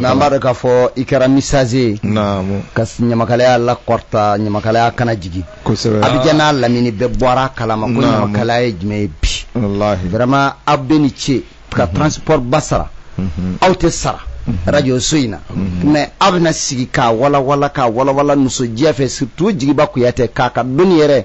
n'an b'a dɔn k'a fɔ i kɛra messager ye ka ɲamakalaya lakɔrɔta ɲamakalaya kana jigin Abidjan n'a lamini bɛɛ bɔra kalama ko ɲamakalaya ye jumɛn ye bi vraiment aw bɛɛ ni ce ka mhm. transport ba sara mhm. aw tɛ sara mhm. radio so in na mais aw bɛna sigi k'a walawala k'a walawala nisɔndiya fɛ surtout jigiba kuyatɛ k'a ka dɔnni yɛrɛ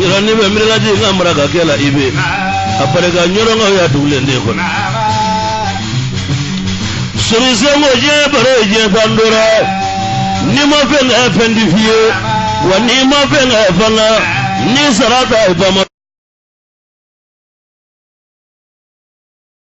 yɔrɔ ne bɛ miirilaji n ka mara ka kɛ la i bɛ a barika ɲɔrɔnkaw y'a dugulen de kɔnɔ sorisenko diɲɛ baro ye diɲɛ fan dɔrɔn ye n'i ma fɛn kɛ fɛn tɛ f'i ye wa n'i ma fɛn kɛ fana n'i sara ta ye bama